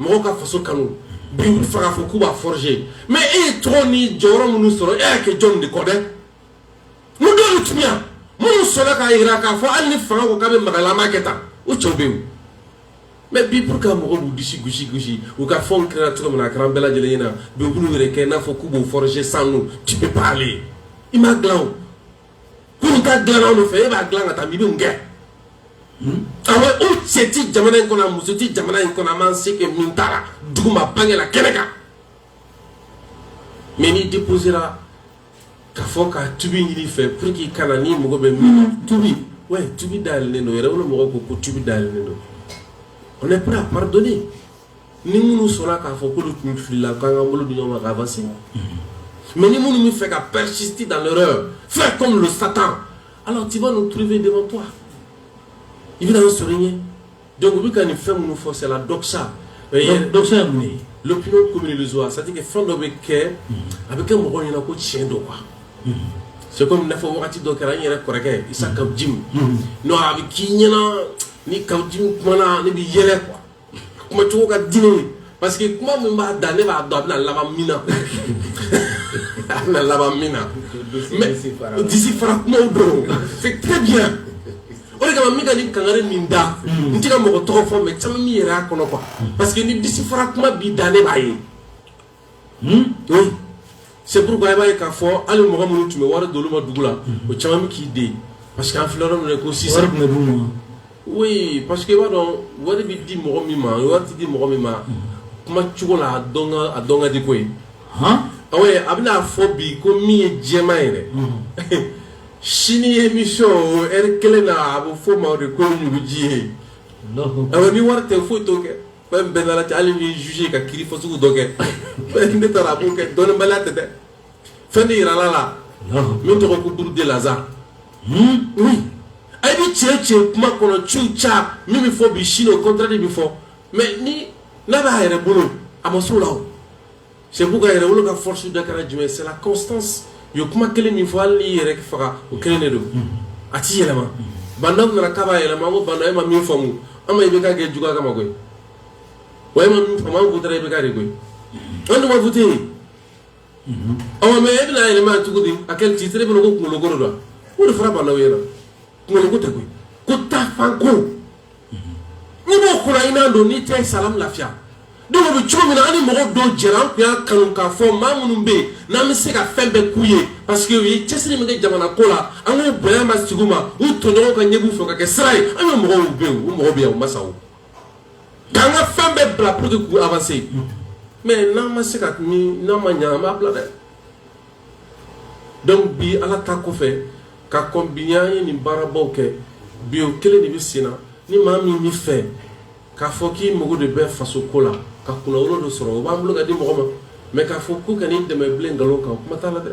mɔgɔw ka faso kanu bi u b'a fɛ k'a fɔ k'u b'a forger mais e ye tɔgɔ ni jɔyɔrɔ minnu sɔrɔ e y'a kɛ jɔn de kɔ dɛ Mun don ti minnu sɔnna k'a jira k'a fɔ hali ni fanga ko ka bɛ magalama kɛ taa u cɛw bɛ yen mais bi pour que mɔgɔw b'u disi gosi gosi u k'a fɔ u kɛra cogo min na a kɛra bɛɛ lajɛlen ɲɛna bi u b'u yɛrɛ kɛ i n'a fɔ k'u b'o forger sans nous ci bɛ baara ye i m'a dila pour k'a dila anw fɛ e b'a dila ka taa i bɛ kɛ awa o cɛ tɛ jamana in kɔnɔ o muso tɛ jamana in kɔnɔ a ma se kɛ min taara dugu ma bangekɛla kɛnɛ kan mais n'i di kosera K'a fɔ ka tubi ɲini i fɛ pour que i kana ni mɔgɔ bɛ min na tubi ouais tubi dayɛlɛlen don Yɛrɛwolo mɔgɔw ko ko tubi dayɛlɛlen don on est prêt à pardonner ni minnu sɔnna k'a fɔ k'olu tun filila k'an ka bolo di ɲɔgɔn ma ka avancer mais ni minnu b'a fɛ ka persister dans l'erreur faire comme le Satan alors tu vas nous trouver devant toi i bɛna an sɔrɔ i ɲɛ Donc u bɛ ka nin fɛn minnu fɔ c'est la doxa donc ye doxa ye mun ye l'opinion commune illusoire c'est à dire que fɛn dɔ bɛ kɛ a bɛ kɛ mɔgɔw ɲɛna ko tiɲɛ don quoi c'est comme i n'a fɔ wagati dɔ kɛra n yɛrɛ kɔrɔkɛ Isa Kaw Jim non a bɛ k'i ɲɛna ni Kaw Jim kumana ne bɛ yɛlɛ quoi a kuma cogo ka di ne ye Parce que kuma min b'a da ne b'a dɔn a bɛna laban min na a bɛna laban min na mais disi fara kumaw don c'est très bien o de kama n bɛ ka nin kangari min da n tɛ ka mɔgɔ tɔgɔ fɔ mais caman b'i yɛrɛ y'a kɔnɔ quoi parce que ni disi fara kuma b'i da ne b'a ye oui c'est pourquoi i b'a ye k'a fɔ hali mɔgɔ minnu tun bɛ wari d'olu ma dugu la o caman min k'i den parce que an fila minɛ ko si ma parce que i b'a dɔn wari bɛ di mɔgɔ min ma wari di mɔgɔ min ma kuma cogo la a dɔn ka di koyi a bɛna fɔ bi ko min ye jɛman yɛrɛ sini émission kelen na a b'o fɔ ma de ko ɲuguji ye ni wari tɛ foyi to kɛ fɛn bɛɛ nana cɛ hali ni juge ka kiri fɔ sugu dɔ kɛ fɛn ne taara a b'o kɛ dɔnnibaliya tɛ dɛ fɛn de yirala la min tɔgɔ ko buru de laza oui a bɛ tiɲɛ tiɲɛ kuma kɔnɔ tout ça min bɛ fɔ bi sini o contraire bɛ fɔ mais ni n'a b'a yɛrɛ bolo a ma s'o la o c'est pourquoi yɛrɛwolo ka force de kɛra jumɛn c'est la constance u ye kuma kelen min fɔ hali i yɛrɛ k'i faga o kelen de don a t'i yɛlɛma banda nana kababa yɛlɛma ko banda e ma min faamu an i bɛ ka kɛ juguya kama koyi wa e ma min faamu ko taara i bɛ ka de koyi an dugawuwa fut yen ɔ mɛ e bɛna yɛlɛma cogo di à quel titre bɛ ko kunkolokolo don o de fara banda yɛrɛ kunkolo ko tɛ koyi ko taafanko n'i b'o ko la i n'a dɔn n'i tɛ salamu lafiya donc o bɛ cogo min na an ni mɔgɔ dɔw jɛra an tun y'a kanu k'a fɔ maa minnu bɛ yen n'an bɛ se ka fɛn bɛɛ k'u ye parce que u ye cɛsiri min kɛ jamana ko la an k'u bonya masegin u ma u tɔɲɔgɔnw ka ɲɛb'u fɛ ka kɛ sira ye an ye mɔgɔw bɛ yen u mɔgɔ bɛ yan u ma sa o k'an ka fɛn bɛɛ bila pour que k'u avancer mais n'an ma se ka ni n'an ma ɲɛ an b'a bila dɛ. donc bi ala ta kɔfɛ ka combiner ni baarabaw kɛ bi o kelen de bɛ sen na ni maa min bɛ fɛ k'a fɔ k'i mago de bɛ faso ko la ka kunnawolo dɔ sɔrɔ o b'an bolo ka di mɔgɔ ma mais k'a fɔ k'u ka nin dɛmɛ bilen nkalon kan kuma t'a la dɛ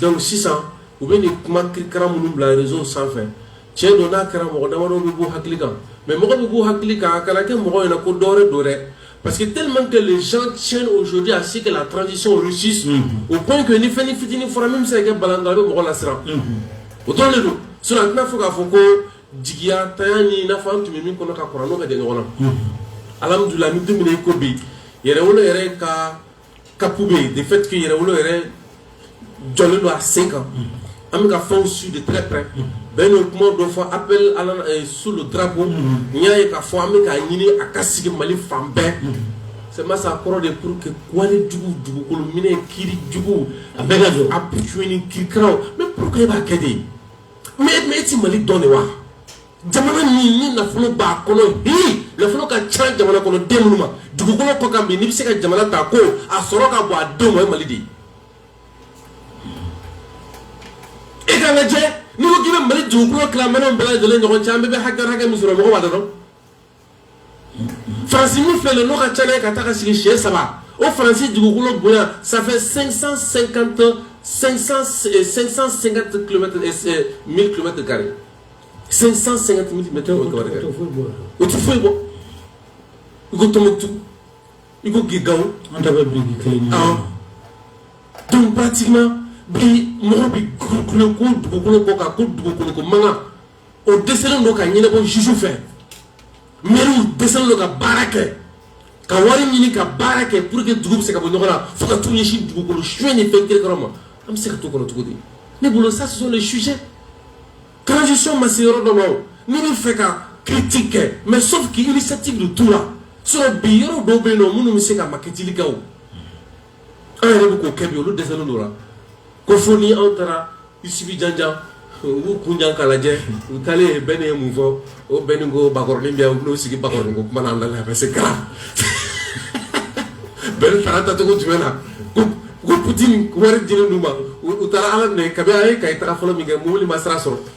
donc sisan u bɛ nin kuma kirikara minnu bila réseau sanfɛ tiɲɛ don n'a kɛra mɔgɔ damadɔ bɛ b'u hakili kan mais mɔgɔ bɛ b'u hakili kan a kana kɛ mɔgɔ ɲɛna ko dɔwɛrɛ don dɛ parce que tellement que les gens tiennent aujourd'hui à ce que la transition réussisse au point que ni fɛnnin fitinin fɔra min bɛ se ka kɛ balan a bɛ mɔgɔ lasiran o dɔrɔn de don sinon a tɛna fɔ k'a fɔ ko jigiyantanya nin i n'a fɔ an tun bɛ min kɔnɔ ka kɔrɔ n'o ka jan ɲɔgɔn na alhamdulillah ni dumuni ko bi yɛrɛwolo yɛrɛ ka kapu bɛ yen de fait que yɛrɛwolo yɛrɛ jɔlen don a sen kan an bɛ ka fɛnw suivre de très près bɛn n'o kuma dɔ fɔ appel à la euh, sous le drapeau n y'a ye k'a fɔ an bɛ k'a ɲini a ka sigi Mali fan bɛɛ c'est ma sa kɔrɔ de pour que wale jugu dugukolo minɛ kiri jugu a bɛɛ ka jɔ a pucuni kirikaraw mais pourquoi e b'a kɛ de mais mais e ti Mali dɔn de wa jamana min ni nafolo b'a kɔnɔ bi nafolo ka ca jamana kɔnɔ den minnu ma dugukolo kɔ kan bi n'i bɛ se ka jamana ta ko a sɔrɔ ka bɔ a denw ma o ye mali de ye e ka lajɛ n'i ko k'i bɛ mali dugukolo tila maliɛnw bɛɛ lajɛlen ɲɔgɔn cɛ an bɛɛ bɛ hakɛ hakɛ min sɔrɔ mɔgɔ b'a dɔn Farasi min filɛ n'o ka ca ka taa ka sigi si saba o farasi dugukolo bonya sanfɛ sansan sen kantɔn sansan sen ka mitɛ kari sansan sen ka tɛmɛ bɛ o o tɛ foyi bɔ i ko totu i ko gda an bɛ bi kelen donbatima bi mɔgɔ bɛ kulu ko dugukolo bɔ ka ko dugukolo ko mankan o dɛsɛlen don ka ɲɛnabɔ juge fɛ mɛriw dɛsɛlen don ka baara kɛ ka wari ɲini ka baara kɛ pour que dugu bɛ se ka bɔ nɔgɔ la fo ka t'u ɲɛsin dugukolo suɲɛ ni fɛn kirikara ma an bɛ se ka to kɔnɔ cogo di ne bolo ça ce sont les sujets transition ma se yɔrɔ dɔ ma o ne bɛ fɛ ka critique kɛ mais sauf que initiative de t'u la sinon bi yɔrɔ dɔw bɛ yen nɔ minnu bɛ se ka makɛtili kɛ o an yɛrɛ bɛ k'o kɛ bi olu dɛsɛlen don la ko fo ni anw taara Russie bi janjan u b'u kun jan k'a lajɛ u taalen yen bɛɛ ye mun fɔ o bɛɛ ni ko bakɔrɔnin bɛ yan u bɛn'u sigi bakɔrɔnin ko kuma na an da la a bɛ se kala bɛɛ taara taacogo jumɛn na ko ko Putini wari dilen d'u ma u taara Ala minɛ kabi a ye Kayi taga fɔlɔ min kɛ mobili ma sira sɔrɔ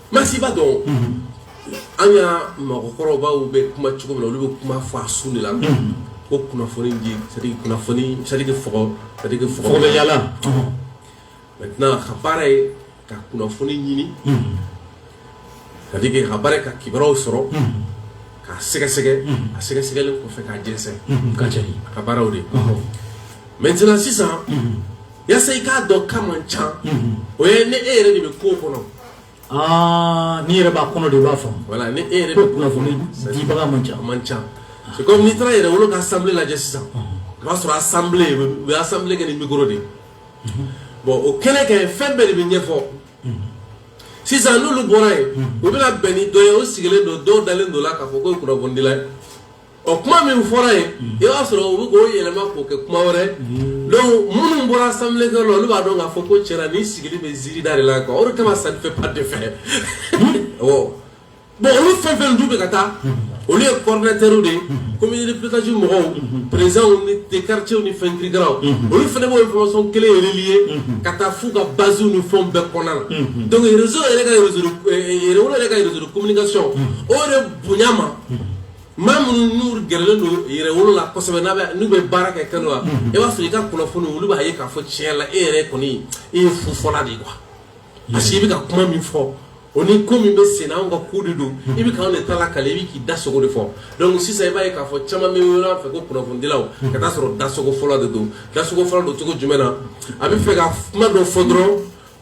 Merci i b'a dɔn an ka mɔgɔkɔrɔbaw bɛ kuma cogo min na olu bɛ kuma fɔ a surunnin na ko kunnafoni yalala ka baara ye ka kunnafoni ɲini ka ka baara ka kibaruyaw sɔrɔ ka sɛgɛsɛgɛ a sɛgɛsɛgɛli kɔfɛ ka jɛnsɛn ka cari a ka baaraw de maintenant sisan yasa i k'a dɔn k'a man ca o ye ni e yɛrɛ de bɛ ko kɔnɔ Aa n'i yɛrɛ b'a kɔnɔ de i b'a fɔ voilà ni e yɛrɛ bɛ kunnafonidibaga man ca man ca kɔmi n'i taara Yɛrɛwolo ka assemblée lajɛ sisan o b'a sɔrɔ assemblée u ye assemblée kɛ ni micro de bon o kɛlen kɛ fɛn bɛɛ de bɛ ɲɛfɔ sisan n'olu bɔra yen u bɛna bɛn ni dɔ ye o sigilen don dɔw dalen don a la k'a fɔ ko kunnafonidi ɔ kuma min fɔra yen i b'a sɔrɔ u bɛ k'o yɛlɛma k'o kɛ kuma wɛrɛ donc minnu bɔra assemblée kɛ la olu b'a dɔn k'a fɔ ko tiɲɛ la nin sigilen bɛ ziirida de la quoi o de kama ça ne fait pas d'effet awɔ bon olu fɛn fɛn dun bɛ ka taa olu ye coordinateur de ye comité de pilotage mɔgɔw présidents des quartiers ni fɛn kirikiraw olu fana b'o information kelen in relayer ka taa f'u ka base ni fɛnw bɛɛ kɔnɔna la donc réseau yɛrɛ ka réseau de- eh, eh, Yɛrɛwolo yɛrɛ ka réseau de communication o de bonya ma maa minnu n'u gɛrɛlen don Yɛrɛwolo la kosɛbɛ n'a bɛ n'u bɛ baara kɛ kɛnɛ la i b'a sɔrɔ i ka kunnafoni olu b'a ye k'a fɔ tiɲɛ la e yɛrɛ kɔni e ye fufɔla de ye quoi parce que i bɛ ka kuma min fɔ o ni ko min bɛ sen na anw ka ko de don i bɛ k'anw de ta lakali i bɛ k'i da sago de fɔ donc sisan i b'a ye k'a fɔ caman bɛ wele an fɛ ko kunnafonidilaw ka t'a sɔrɔ dasagofɔla de don dasagofɔla don cogo jumɛn na a bɛ fɛ ka kuma dɔ fɔ dɔrɔn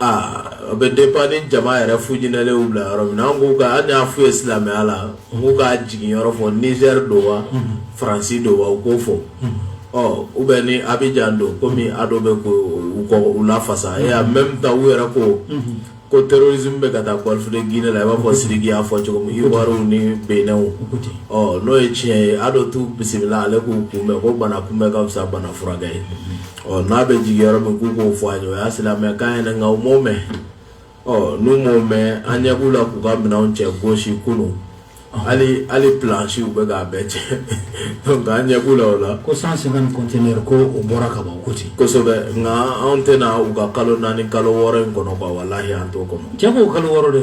aa a bɛ dépend ni jama yɛrɛ fujinɛlenw bila yɔrɔ min na an k'u ka an y'a f'u ye silamɛya la u k'u ka jigin yɔrɔ fɔ Niger don wa France don wa u k'o fɔ ɔ ou bien ni Abidjan don komi Ado bɛ k'o u kɔ u lafasa et en même temps u yɛrɛ ko ko terrorisme bɛ ka taa Golfe de Guinée la i b'a fɔ Siriki y'a fɔ cogo min Ivoiriw ni Beninw ɔ n'o ye tiɲɛ ye Ado t'u bisimila ale k'u kunbɛn ko bana kunbɛn ka fisa bana furakɛ ye ɔ n'a bɛ jigin yɔrɔ min k'u k'o fɔ an ye o y'a silamɛkan ye nka u m'o mɛn ɔ n'u m'o mɛn an ɲɛ b'u la k'u ka minɛnw cɛ k'o sigi u kun hali hali planche u bɛ k'a bɛɛ cɛ donc an ɲɛ b'u la o la ko 150 conteneur ko o bɔra ka ban ko ten kosɛbɛ nka anw tɛna u ka kalo naani kalo wɔɔrɔ in kɔnɔ quoi walahi an t'o kɔnɔ janko kalo wɔɔrɔ dɛ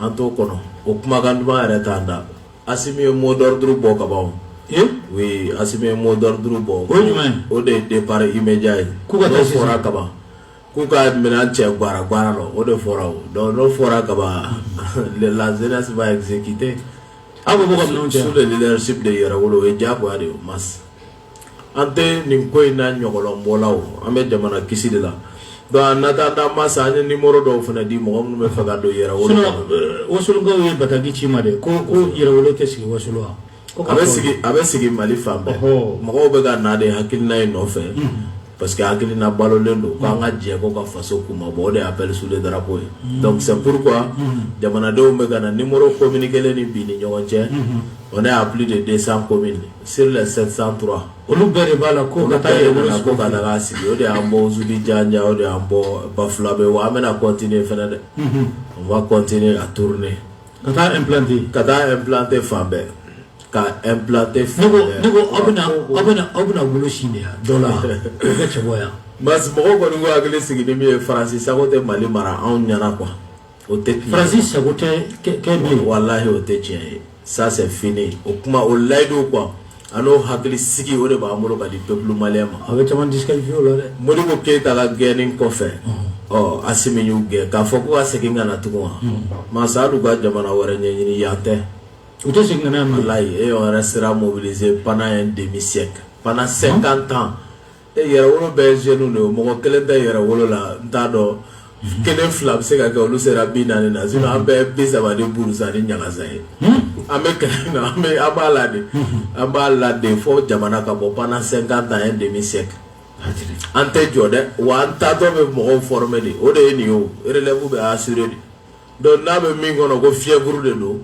an t'o kɔnɔ o kumakan duman yɛrɛ t'an da Asimi ye mot d'ordre bɔ ka ban o. Ee! Oui, Asimi ye mot d'ordre bɔ. O ye jumɛn ye? O de ye départ immédiat ye. K'u ka taa sisan. N'o fɔra ka ban, k'u ka minɛn cɛ guwara guwara la, o de fɔra o. Donc n'o fɔra ka ban, la jeunesse va exécuter. Aw ko k'u ka minɛnw cɛ wa? Sous le leadership de Yɛrɛwolo, o ye diyagoya de ye o, Mas. an tɛ nin ko in na ɲɔgɔlɔnbɔ la o an bɛ jamana kisi de la donc na taa taa ma sa an ye numéro dɔw fana di mɔgɔ minnu b'a fɛ ka don Yɛrɛwolo Wasulukaw ye bataki ci n ma de ko ko Yɛrɛwolo tɛ sigi Wasulu wa a bɛ sigi a bɛ sigi Mali fan bɛɛ mɔgɔw bɛ ka na de hakilina in nɔfɛ parce que hakilina balolen don k'an ka jɛ ko ka faso kunmabɔ o de ye appel sous le drapeau ye donc c'est pourquoi jamanadenw bɛ ka na numéro communiquélen ni bi ni ɲɔgɔn cɛ on est à plus de 200 communes Sur les 703 olu bɛɛ de b'a la ko ka taa Yɛrɛwolo ko ka daga sigi o de y'an bɔ Djidjan o de y'an bɔ Bafulabɛ wa an bɛna continuer fana dɛ on va continuer à tourner ka taa implanter fan bɛɛ ka aw bɛ aw bɛna wolo si de yan dɔ la cɛ yan mɔgɔ kɔni ko hakili sigilen min ye Faransi sago tɛ Mali mara anw ɲɛna quoi O tɛ tiɲɛ ye, Faransi sago tɛ kɛ min ye, walahi o tɛ tiɲɛ ye ça c'est fini o kuma o layidu quoi a n'o hakilisigi o de b'an bolo ka di peuple malien ma, a bɛ caman disqualifier o la dɛ, Modibo Keyita ka gɛnni kɔfɛ, ɔ Asimi y'u gɛn k'a fɔ k'u ka segin ka na tugun wa, Mas hali u ka jamana wɛrɛ ɲɛɲini yan tɛ, u tɛ segin ka na yan bilen, walayi et on restera mobilisé pendant un demi siècle pendant 50 ans Et Yɛrɛwolo bɛɛ ye jeunes de ye o, mɔgɔ kelen tɛ Yɛrɛwolo la n t'a dɔn kelen fila bɛ se ka kɛ olu sera 40 na sinon an bɛɛ ye 30 ni buruza ni ɲagasa ye, an bɛ kɛlɛ min na an b'a la de, an b'a la de fɔ jamana ka bɔ pendant 50 ans un demi siècle an tɛ jɔ dɛ wa an taatɔ bɛ mɔgɔw former de o de ye nin ye o relève bɛ assurer de Donc n'a bɛ min kɔnɔ ko février de don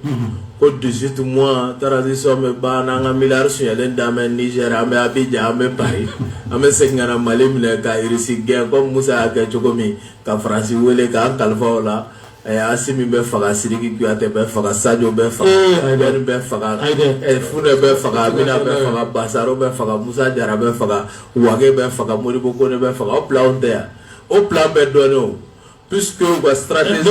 ko dix-huit mois transition bɛ ban n'an ka miliyari sonyalen da an bɛ niger an bɛ abidjan an bɛ paris an bɛ segin ka mali minɛ ka irisi gɛn komi musa y'a kɛ cogo min ka faransi wele k'an kalifa o la asimi bɛ faga siriki kuyate bɛ faga sajo bɛ faga bɛn bɛ faga fune bɛ faga amina bɛ faga basaro bɛ faga musa jara bɛ faga wage bɛ faga modibo kɔnɛ bɛ faga o plan bɛɛ dɔn P ka siratiz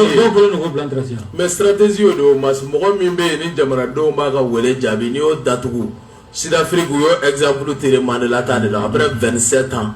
bilasi mɛ siratsi o don ma mɔgɔ min bɛ yen ni jamanadenw b'a ka wele jaabi n' y'o datugu sirafiri u y' ezpuru tere ma de la tan de la a bɛ vsɛ tan